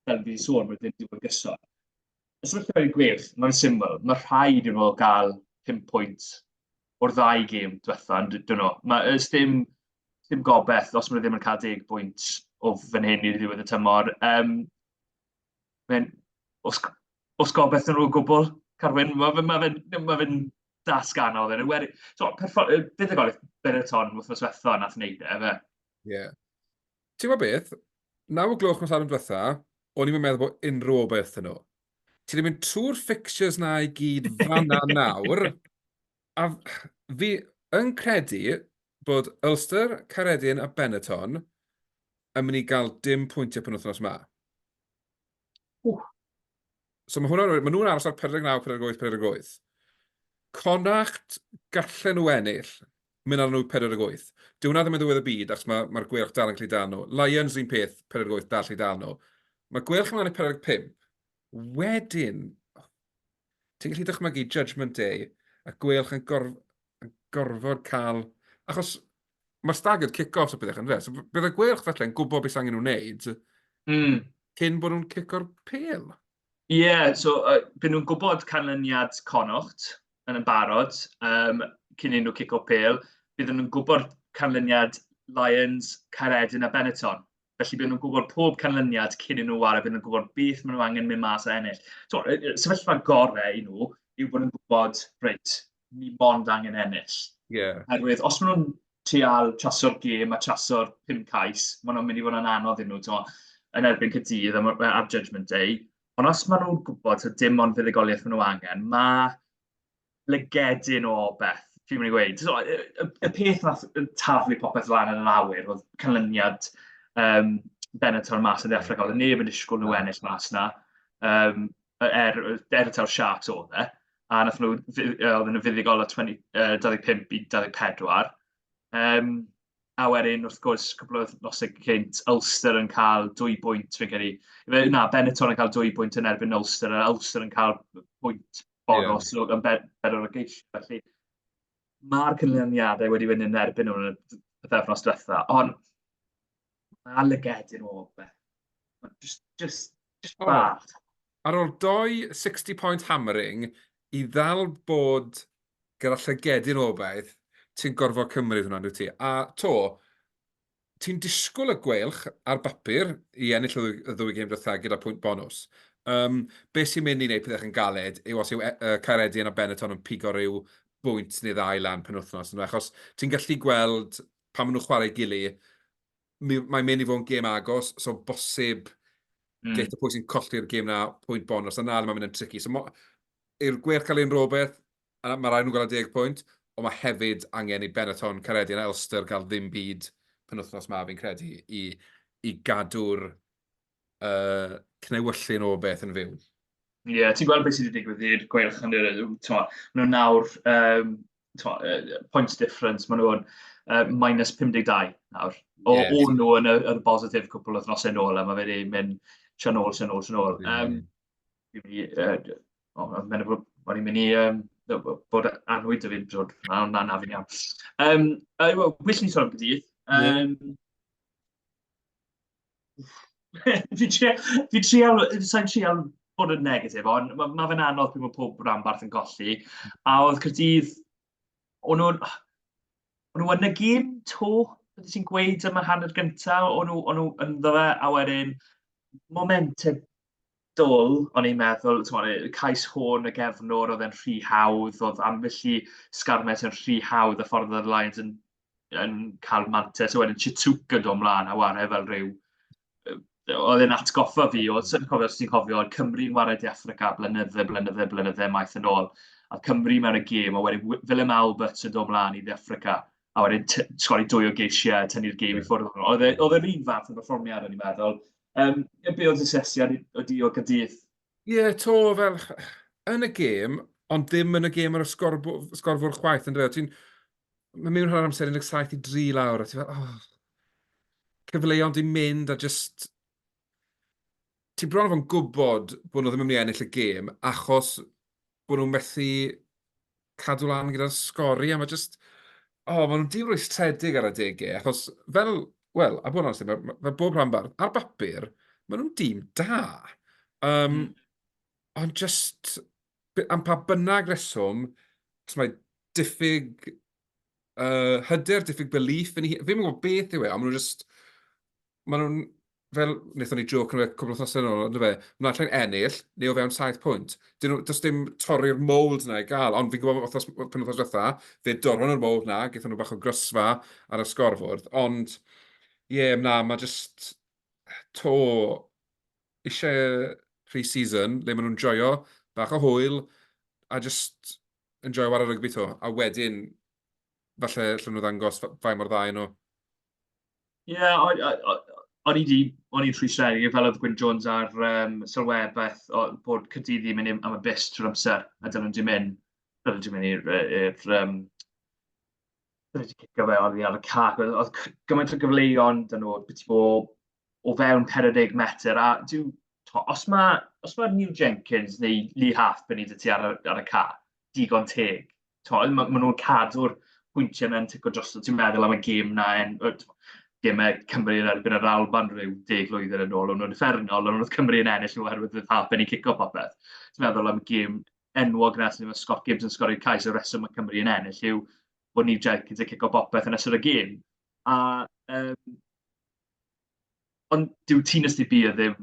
fel fi'n sôn, mae'n ddim diwedd gyson. Os ydych chi'n i'r gweilch, mae'n syml. Mae rhaid i'n nhw gael 5 pwynt o'r ddau gêm diwetha, ond dyn nhw. Mae ys dim, dim gobeith os maen nhw ddim yn cael deg bwynt o fan hyn i'r ddiwedd y tymor. Um, mae'n, os, os gobeith nhw o gwbl, Carwyn, mae fe'n ma fe, ma fe das ganol. Fe. Weri, so, bydd y golwg Bereton wrth nos wetha nath wneud e, fe. Ie. Yeah. Ti'n gwybod beth? Naw o gloch nos ar yn diwetha, o'n i'n meddwl bod unrhyw obaith yn nhw. Ti wedi mynd trwy'r fixtures na i gyd fanna nawr. A fi yn credu bod Ulster, Caeredin a Benetton yn mynd i gael dim pwyntiau pan wythnos yma. Ww. So mae hwnna'n rhaid, mae nhw'n aros ar 49, 48, 48. Connacht gallen nhw ennill, Mynd arnyn nhw 48. Dyw hwnna ddim yn ddiwedd y byd achos mae, mae'r gweilch dal yn gallu dal nhw. Lions un peth, 48 dal gallu dal nhw. Mae gweilch ymlaen i 45. Wedyn, ti'n gallu dychmygu Judgment Day a gweilch yn, gorf, yn gorfod cael... Achos mae staggered kick-offs a bethau yn fe. So bydd y gweilch felly yn gwybod beth sy'n angen nhw'n wneud mm. cyn bod nhw'n cico'r pel. Ie, so yy bydden nhw'n gwybod canlyniad Connaught yn yn barod yym cyn iddyn nhw cico pêl. Bydden nhw'n gwybod canlyniad Lions, Caeredin a Benetton. Felly bydden nhw'n gwybod pob canlyniad cyn iddyn nhw ware, bydden nhw'n gwybod beth maen nhw angen mynd mas a ennill. Tibod, y y sefyllfa gorau i nhw yw bod nhw'n gwybod, reit, ni mond angen ennill. Yeah. Herwydd, os maen nhw'n trial traso'r gêm a traso'r pum cais, maen nhw'n mynd i fod yn anodd iddyn nhw, ti'n yn erbyn cydydd am, am Judgment Day. Ond os maen nhw'n gwybod sydd dim ond fuddugoliaeth maen nhw angen, mae lygedyn o beth, fi'n mynd i weid. So, y, y, y peth nath taflu popeth lan yn yr awyr oedd canlyniad um, Benator mas yn ddeffragol. Neb yn disgwyl nhw ennill mas na. Um, er, er y ta'r Sharks oedd e. a nath nhw, oedd yn fuddugol o 20, uh, 25 i 24. Um, a wedyn, wrth gwrs, cwbl o nosau cynt, Ulster yn cael dwy bwynt, fi'n credu. Na, Benetton yn cael dwy bwynt yn erbyn Ulster, a Ulster yn cael pwynt bonos yeah. yn bedwar o geisio. Felly, mae'r cynlyniadau wedi fynd yn erbyn nhw'n y pethefnos diwetha. Ond, Mae lyged i'r ôl fe. Just, just, just bach. Oh. Ar ôl doi 60 point hammering, i ddal bod gyda llygedyn obaith, ti'n gorfod cymryd hwnna, dwi ti. A to, ti'n disgwyl y gweilch ar bapur i ennill y ddwy gêm dwytha gyda pwynt bonus. Um, be sy'n mynd i wneud pethau yn galed yw os yw uh, e, Caeredin a Benetton yn pigo rhyw bwynt neu ddau lan pen wythnos. Achos ti'n gallu gweld pan maen nhw'n chwarae i gily, mae'n mynd i fod yn gêm agos, so bosib mm. geit y pwy sy'n colli'r gêm na pwynt bonus, a na, mae'n mynd yn tricky. So, i'r gwerth cael ein rhywbeth, mae rhaid nhw'n gael y deg pwynt, ond mae hefyd angen i Benetton, Careddi a Elster gael ddim byd penwthnos ma fi'n credu i, i gadw'r uh, cnewyllyn o beth yn fyw. Ie, yeah, ti'n gweld beth sydd wedi digwydd i'r gweilch yn yr... Maen nhw nawr, um, twa, uh, points difference, maen nhw'n uh, minus 52 nawr. O, yeah. o'n nhw yn y, y bositif cwpl o ddnosau nôl, a mae wedi mynd sian ôl, sian ôl, sian ôl. Um, uh, oh, mae'n mynd o'n i'n mynd i um, bod anwyd y fi'n drwyd, na, na, na fi'n iawn. Um, uh, well, wish ni sôn am gydydd. Um, yeah. fi trio, fi trio, sa'n trio bod yn negatif, ond mae ma fe'n anodd pryd mae pob rhanbarth yn golli. A oedd Cyrdydd, o'n nhw'n... O'n nhw yn y gym to, beth ti'n gweud yma hanner gyntaf, o'n nhw, on nhw yn dda, a wedyn momentum dull, o'n i'n meddwl, t'mod, y cais hwn, y gefnwr, oedd e'n rhy hawdd, oedd ambell i sgarmet yn rhy hawdd, y ffordd oedd y Lions yn, yn cael mantes, a wedyn Chitsuke yn dod ymlaen a wario fel rhyw... oedd e'n atgoffa fi o, sa i'n cofio os ti'n cofio, oedd Cymru yn wario De Affrica blynydde, blynydde, blynydde maith yn ôl, a oedd Cymru mewn y gêm, a wedyn Willem Albert yn dod ymlaen i De Affrica, a wedyn t- sgori dwy o geisiau a tynnu'r gêm i ffwrdd. Oedd e- oedd e'r un fath o berfformiad, o'n i'n meddwl, Yym, yy, be' oedd dy sesiad i- o di o Caerdydd? Ie, 'to fel yn y gêm, ond ddim yn y gêm ar y sgorbw- sgorfwr chwaith yndyw e? Ti'n... Mae mewn hanner amser 17 i 3 lawr a ti fel oh. Cyfleon 'di mynd a jyst... Ti bron a bo'n gwbod bod nhw ddim yn mynd i ennill y gêm achos bod nhw methu cadw lan gyda'r sgori, a mae jyst, o, oh, maen nhw'n dîm rwystredig ar adegau, achos fel, wel, a bod yn amser, mae, mae bob rhan bardd, ar bapur, maen nhw'n dîm da. Um, mm. Ond jyst, am pa bynnag reswm, os mae diffyg uh, hyder, diffyg belief yn ei... Fi'n gwybod beth yw e, ond maen nhw'n jyst... Maen nhw'n, fel wnaethon ni jôc nhw cwbl wythnosau yn ôl, ond fe, maen nhw'n allan ennill, neu o fewn 7 pwynt. Dyn nhw, does dim torri'r mold na i gael, ond fi'n gwybod bod wythnos, pen wythnos dda, fe dorron nhw'r mold na, gyda nhw bach o grysfa ar y sgorfwrdd, ond ie, yeah, na, mae jyst to eisiau pre-season le maen nhw'n joio bach o hwyl a jyst yn joio war y rygbi to. A wedyn, falle lle nhw ddangos fain mor dda nhw. Ie, o- o- o- o'n i 'di... o'n i'n rhy seri, fel oedd Gwyn Jones ar yym sylwebeth beth o- bod Caerdydd ddim yn mynd am y bus trwy'r amser, a dylen nhw ddim mynd, dylen nhw ddim mynd i'r yy i'r yym dylen nhw 'di cicio fe oddi ar y cae. Oedd oedd c- gymaint o gyfleuon 'da nhw byti bob o fewn 40 metr, a dyw tibod, os ma' os ma' Neil Jenkins neu Lee Halfpenny 'da ti ar y ar y cae, digon teg. tol, maen ma nhw'n cadw'r pwyntiau mewn tic o drosto. Ti'n meddwl am y gêm na, en, gemau Cymru yn erbyn yr Alban rhyw deg lwyddiant yn ôl, ond nhw'n effernol, ond oedd Cymru yn ennill nhw oherwydd oedd Harpen i cico popeth. Ti'n meddwl am y gêm enwog nes lle mae Scott Gibbs yn sgorio'r cais, y reswm mae Cymru yn ennill yw bod ni Jenkins yn cico popeth yn ystod y gêm. A um, Ond dyw Tina Stibia ddim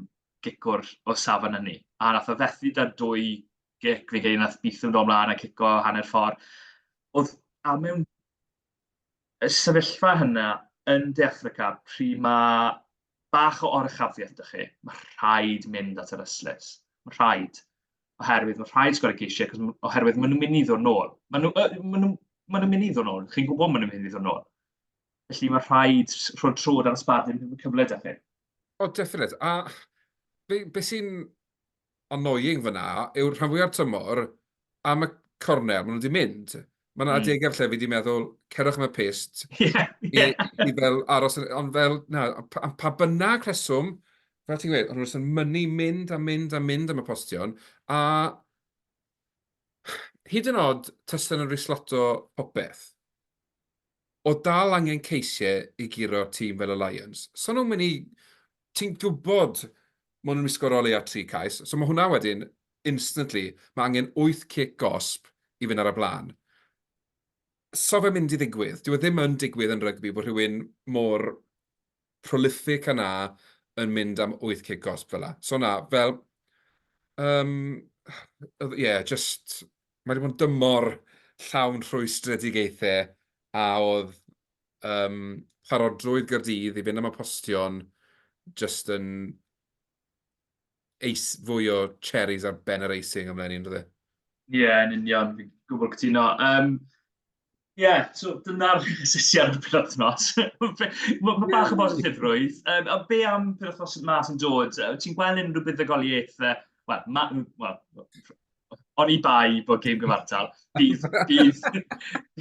gicwr o safon ynni, a nath o fethu da dwy gic, fi'n credu nath Beetham dod mlaen a cico hanner ffordd. Oedd a mewn y sefyllfa hynna yn De Affrica, pryd mae bach o oruchafiaeth da chi, mae rhaid mynd at yr yslis. Mae rhaid. Oherwydd mae rhaid sgwrdd ceisiau, cos, oherwydd maen nhw'n mynd i ddod nôl. Maen nhw'n ma nhw, ma nhw mynd i ddod nôl. Chi'n gwybod maen nhw'n mynd i ddod nôl. Felly mae rhaid rhoi trod ar y sbardun yn cyfle da chi. O, oh, definite. A be, be sy'n annoying fyna yw'r rhan fwyaf tymor am y cornel, maen nhw wedi mynd. Mae'n mm. adegau lle fi wedi meddwl, cerwch am y pist, yeah, yeah. I, i fel aros, ond fel, na, am pa bynnag rheswm, fel ti'n gweud, ond nhw'n mynd yn mynnu mynd a mynd a mynd am y postion, a Hyd yn od tasen nhw'n risloto popeth. O dal angen Ceisie i guro tîm fel y Lions. So nhw'n mynd i... Ti'n gwybod maen nhw'n wisgo'r o leia tri cais. So mae hwnna wedyn, instantly, mae angen wyth cic gosb i fynd ar y blaen. So fe'n mynd i ddigwydd. Dyw e ddim yn digwydd yn rygbi bod rhywun mor prolific a 'na yn mynd am wyth cig gosb fela. So na, fel, um, ie, yeah, just, mae wedi bod yn dymor llawn rhwystredigaethau a oedd um, parodrwydd gyrdydd i fynd am y postion just yn eis fwy o cherries ar ben yr eising ymlaen i'n dweud. Ie, yn union, fi'n gwybod cytuno. Um, Ie, yeah, so dyna'r sesiad o'r penwthnos. Mae ma bach o bositifrwydd. Um, a be am penwthnos yma sy'n dod? Ti'n gweld unrhyw buddugoliaethau? Wel, ma... Wel, o'n i bai bod gêm gyfartal. Bydd, bydd,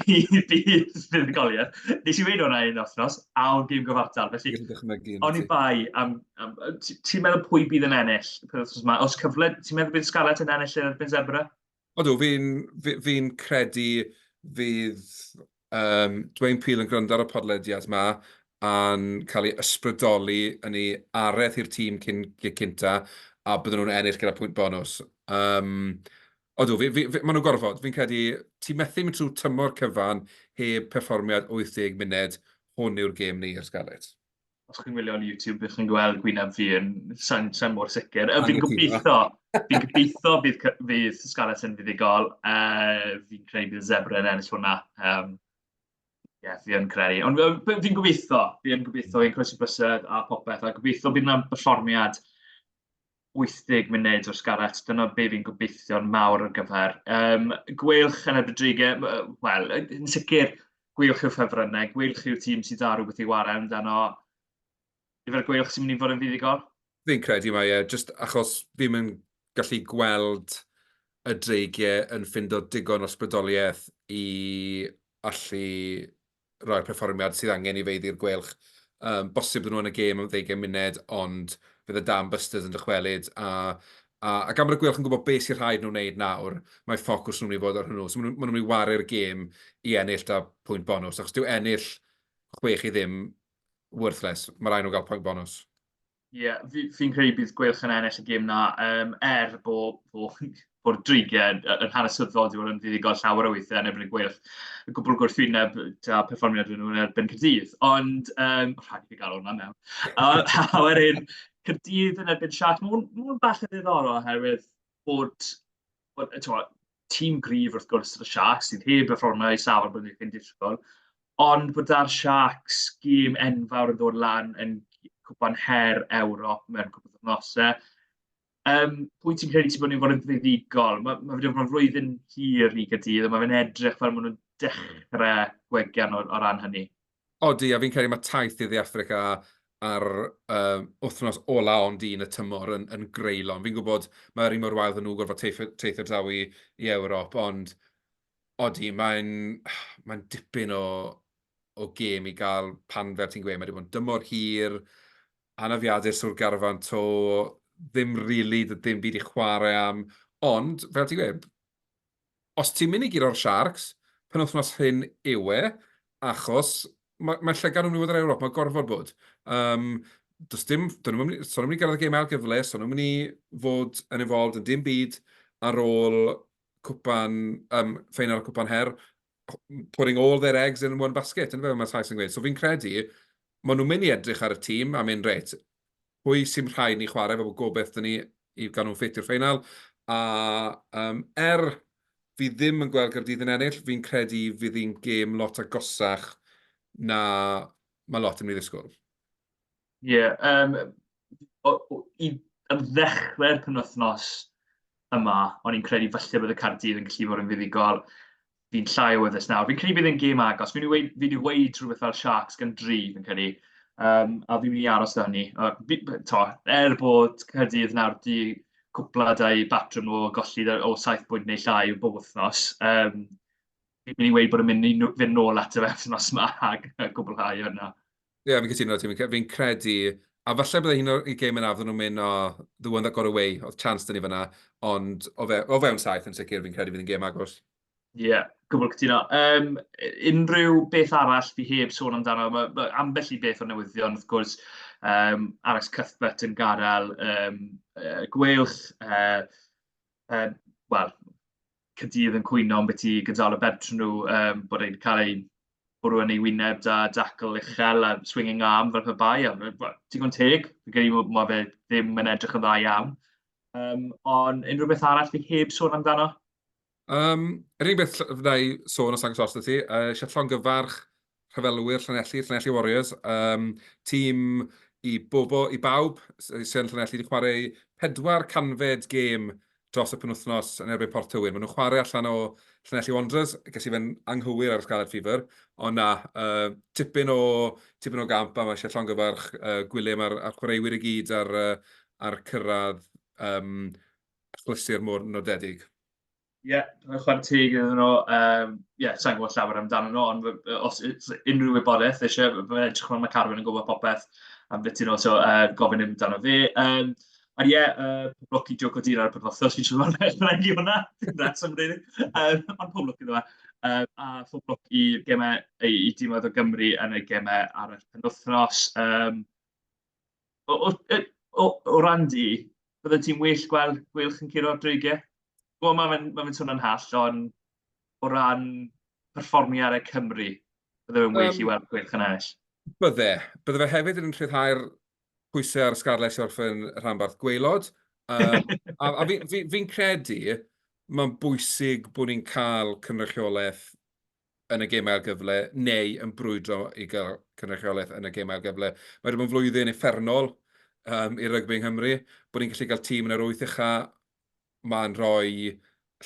bydd, bydd fuddugoliaeth. Nes i wein o'na un othnos, a o'n gêm gyfartal. Felly, o'n i bai am... am ti'n meddwl pwy bydd yn ennill penwthnos yma? Os cyfle, ti'n meddwl bydd Scarlett yn ennill yn erbyn Zebra? Odw, fi'n fi fi'n credu fydd um, Dwayne Peel yn gwrando ar y podlediad yma a'n cael ei ysbrydoli yn ei areth i'r tîm cyn, cynta a byddwn nhw'n ennill gyda pwynt bonus. Um, odw, fi, fi, fi, maen nhw'n gorfod. Fi'n credu ti methu mynd trwy tymor cyfan heb perfformiad 80 munud hwn yw'r gêm ni i'r Scarlets. os chi'n wylio ar YouTube, ych chi'n gweld gwyneb fi yn sain, sain mor sicr. Uh, fi'n gobeithio, fi'n gobeithio bydd, fydd Scarlett yn fuddigol. Uh, fi'n credu bydd Zebra yn ennill hwnna. Um, yeah, fi yn credu. Ond uh, fi'n gobeithio, fi'n gobeithio, fi'n croesi bysedd a popeth. A gobeithio bydd yna berfformiad 80 munud o'r Scarlets, dyna be fi'n gobeithio'n mawr ar gyfer. Um, gweilch yn y Rodrigue, wel, yn sicr, gweilch yw ffefrynnau, gweilch yw tîm sydd da rhywbeth i wario amdano. Yfe'r gweilch sy'n mynd i fod yn fuddugol? Fi'n credu mae e, just achos fi'n mynd gallu gweld y dreigiau yn ffindo digon o sbrydoliaeth i allu roi'r perfformiad sydd angen i feiddi'r Gweilch. Um, bosib nhw yn y gêm am ddeugain munud, ond fydd y Dan Busters yn dychwelyd, a, a, a gan bod y Gweilch yn gwybod beth sy'n rhaid nhw wneud nawr, mae ffocws nhw'n mynd i fod ar hwnnw. So maen nhw'n mynd i waru'r gêm i ennill da pwynt bonus, achos dyw ennill chwech i ddim worthless. Mae rhaid nhw gael pwynt bonus. Ie fi fi'n credu bydd Gweilch yn ennill y gêm 'na yym er bo' bo' bo'r dreigiau yy yn hanesyddol 'di bod yn fuddugol llawer o weithiau yn erbyn y Gweilch. Y gwbwl gwrthwyneb yy da perfformiad nhw yn erbyn Caerdydd ond yym rhaid i fi gael hwnna mewn. A a wedyn Caerdydd yn erbyn Sharks ma' hwn ma' hwn bach yn ddiddorol oherwydd bod tîm grif wrth gwrs y Sharks, sydd heb y ffrona i safon bod ni'n disgwyl, ond bod da'r Sharks gym enfawr yn dod lan yn cwpan her Ewrop mewn cwpan wythnosau. Um, pwy ti'n credu ti bod ni'n fod yn ddiddigol? Mae ma wedi bod yn flwyddyn hir i gydydd, a mae fe'n edrych fel maen nhw'n dechrau gwegian o, o ran hynny. Odi, a fi'n credu mae taith i ddi Africa ar uh, wythnos ola ond un y tymor yn, yn greulon. Fi'n gwybod mae'r un mor wael ddyn nhw gorfod teithio draw i, i Ewrop, ond odi, mae'n mae dipyn o, o gêm i gael pan fel ti'n gweud, mae wedi bod yn dymor hir, anafiadur sŵr garfan to, ddim rili, really, ddim byd i chwarae am, ond fel ti'n gweud, Os ti'n mynd i guro'r Sharks, penwythnos hyn yw e, achos mae, mae llygad yn mynd i fod yr Ewrop, mae gorfod bod. Um, does dim, dyn nhw'n mynd, so nhw'n mynd i gyrraedd y gêm ail gyfle, so nhw'n mynd i fod yn involved yn dim byd ar ôl cwpan, um, ffeinal y cwpan her, putting all their eggs in one basket, yn fe, mae Thais yn gweud. So fi'n credu, maen nhw'n mynd i edrych ar y tîm a mynd reit, pwy sy'n rhaid ni chwarae, fel bod gobeith dyn ni i gael nhw'n ffit i'r ffeinal. A um, er fi ddim yn gweld Gyrdydd yn ennill, fi'n credu fydd hi'n gêm lot agosach na mae lot yn ei ddisgwyl. Ie, yeah, um, o, o, i, am ddechrau'r penwythnos yma, o'n i'n credu falle bod y Cardydd yn gallu fod yn fuddugol. fi'n llai o wyddys nawr. Fi'n credu bydd yn gêm agos. Fi'n wedi fi wedi weud rhywbeth fel Sharks gan dri, fi'n credu. Um, a fi'n mynd i aros da hynny. To, er bod Cyrdydd nawr di cwpla dau batrwm o golli o 7 bwynt neu llai o bob wythnos, um, fi'n mynd i weid bod yn mynd i fynd nôl at y wythnos yma a gwblhau hwnna. Ie, yeah, fi'n cytuno ti. Fi'n credu, a falle bydde hi'n o'r gêm yn afon nhw'n mynd, o, the one that got away, oedd chance dyn ni fyna, ond o, fe, o fewn saith yn sicr, fi'n credu fydd yn gêm agos. Ie, yeah, gwbl cytuno. Um, unrhyw beth arall fi heb sôn amdano, mae ma ambell i beth o newyddion, wrth gwrs, um, Alex Cuthbert yn gadael um, uh, gwelch, uh, uh, wel, Caerdydd yn cwyno am beth i gydalo bentre nhw, um, bod e'n cael ei bwrw yn ei wyneb da, dacl uchel a swinging arm fel pe bai. Digon teg, fi'n credu bod ma fe ddim yn edrych yn dda iawn. Um, ond unrhyw beth arall fi heb sôn amdano? Um, yr unig beth fydda i sôn os agos os ti, uh, eisiau llongyfarch rhyfelwyr Llanelli, Llanelli Warriors, um, tîm i, bobo, i bawb sy'n Llanelli wedi chwarae pedwar canfed gêm dros y penwthnos yn erbyn Port Tywyn. Maen nhw'n chwarae allan o Llanelli Wanderers, ges i fe'n anghywir ar y Scarlet Fever, ond na, uh, tipyn, o, tipyn o gamp a mae eisiau llongyfarch uh, Gwilym a'r, ar chwaraewyr i gyd ar, uh, ar cyrraedd um, achlysur mor nodedig. Ie, chwarae teg iddyn nhw. Um, ie, yeah, sa'n gwybod llawer amdano nhw, ond os unrhyw wybodaeth eisiau, mae'n edrych fel mae Carwyn yn gwybod popeth am beth ti'n o, so uh, gofyn amdano fi. Um, a ie, yeah, uh, pob lwc i Joe Codina ar y penwthnos, fi'n siŵr mae'n rhaid i hwnna. That's am rili. Um, ond pob lwc iddo fe. Um, a pob lwc i gemau, i, i dîmoedd o Gymru yn y gemau ar y penwthnos. Um, O, o, o, o ran di, bydde ti'n well gweld Gweilch yn curo'r dreigiau? Wel, mae fe'n ma fe swnio'n hall, ond o ran perfformiad y Cymru, bydde fe'n well um, i weld Gweilch yn ennill. Bydde. Bydde fe hefyd yn rhyddhau'r pwysau ar y sgarlais wrth yn rhanbarth gweilod. Um, a a fi'n fi, fi credu mae'n bwysig bod ni'n cael cynrychiolaeth yn y gêm ail gyfle, neu yn brwydro i gael cynrychiolaeth yn y gêm ail gyfle. Mae wedi bod yn flwyddyn effernol um, i rygbi yng Nghymru, bod ni'n gallu cael tîm yn yr wyth ucha, mae'n rhoi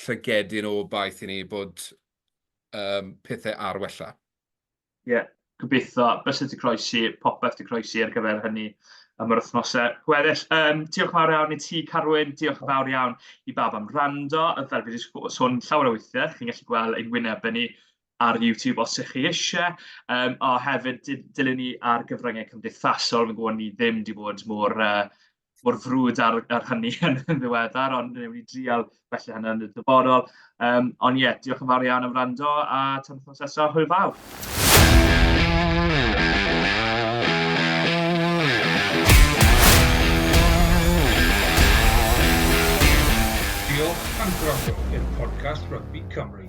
llygedyn o baith i ni bod um, pethau ar wella. Ie, yeah, gobeithio bysedd wedi croesi, popeth wedi croesi ar gyfer hynny am yr wythnosau gweddill. Um, diolch yn fawr iawn i ti, Carwyn. Diolch yn fawr iawn i bab am rando. Fel fi wedi sôn llawer o weithiau, chi'n gallu gweld ein wynebau ni ar YouTube os ydych chi eisiau. Um, a hefyd, dilyn ni ar gyfryngau cymdeithasol. Fi'n gwybod ni ddim wedi bod mor uh, mor frwd ar, ar hynny yn ddiweddar, ond ni'n mynd i drial felly hynny yn y dyfodol. Um, ond ie, yeah, diolch yn fawr iawn am rando a tan wythnos nesaf, hwyl fawr. Podcast Rugby Cymru.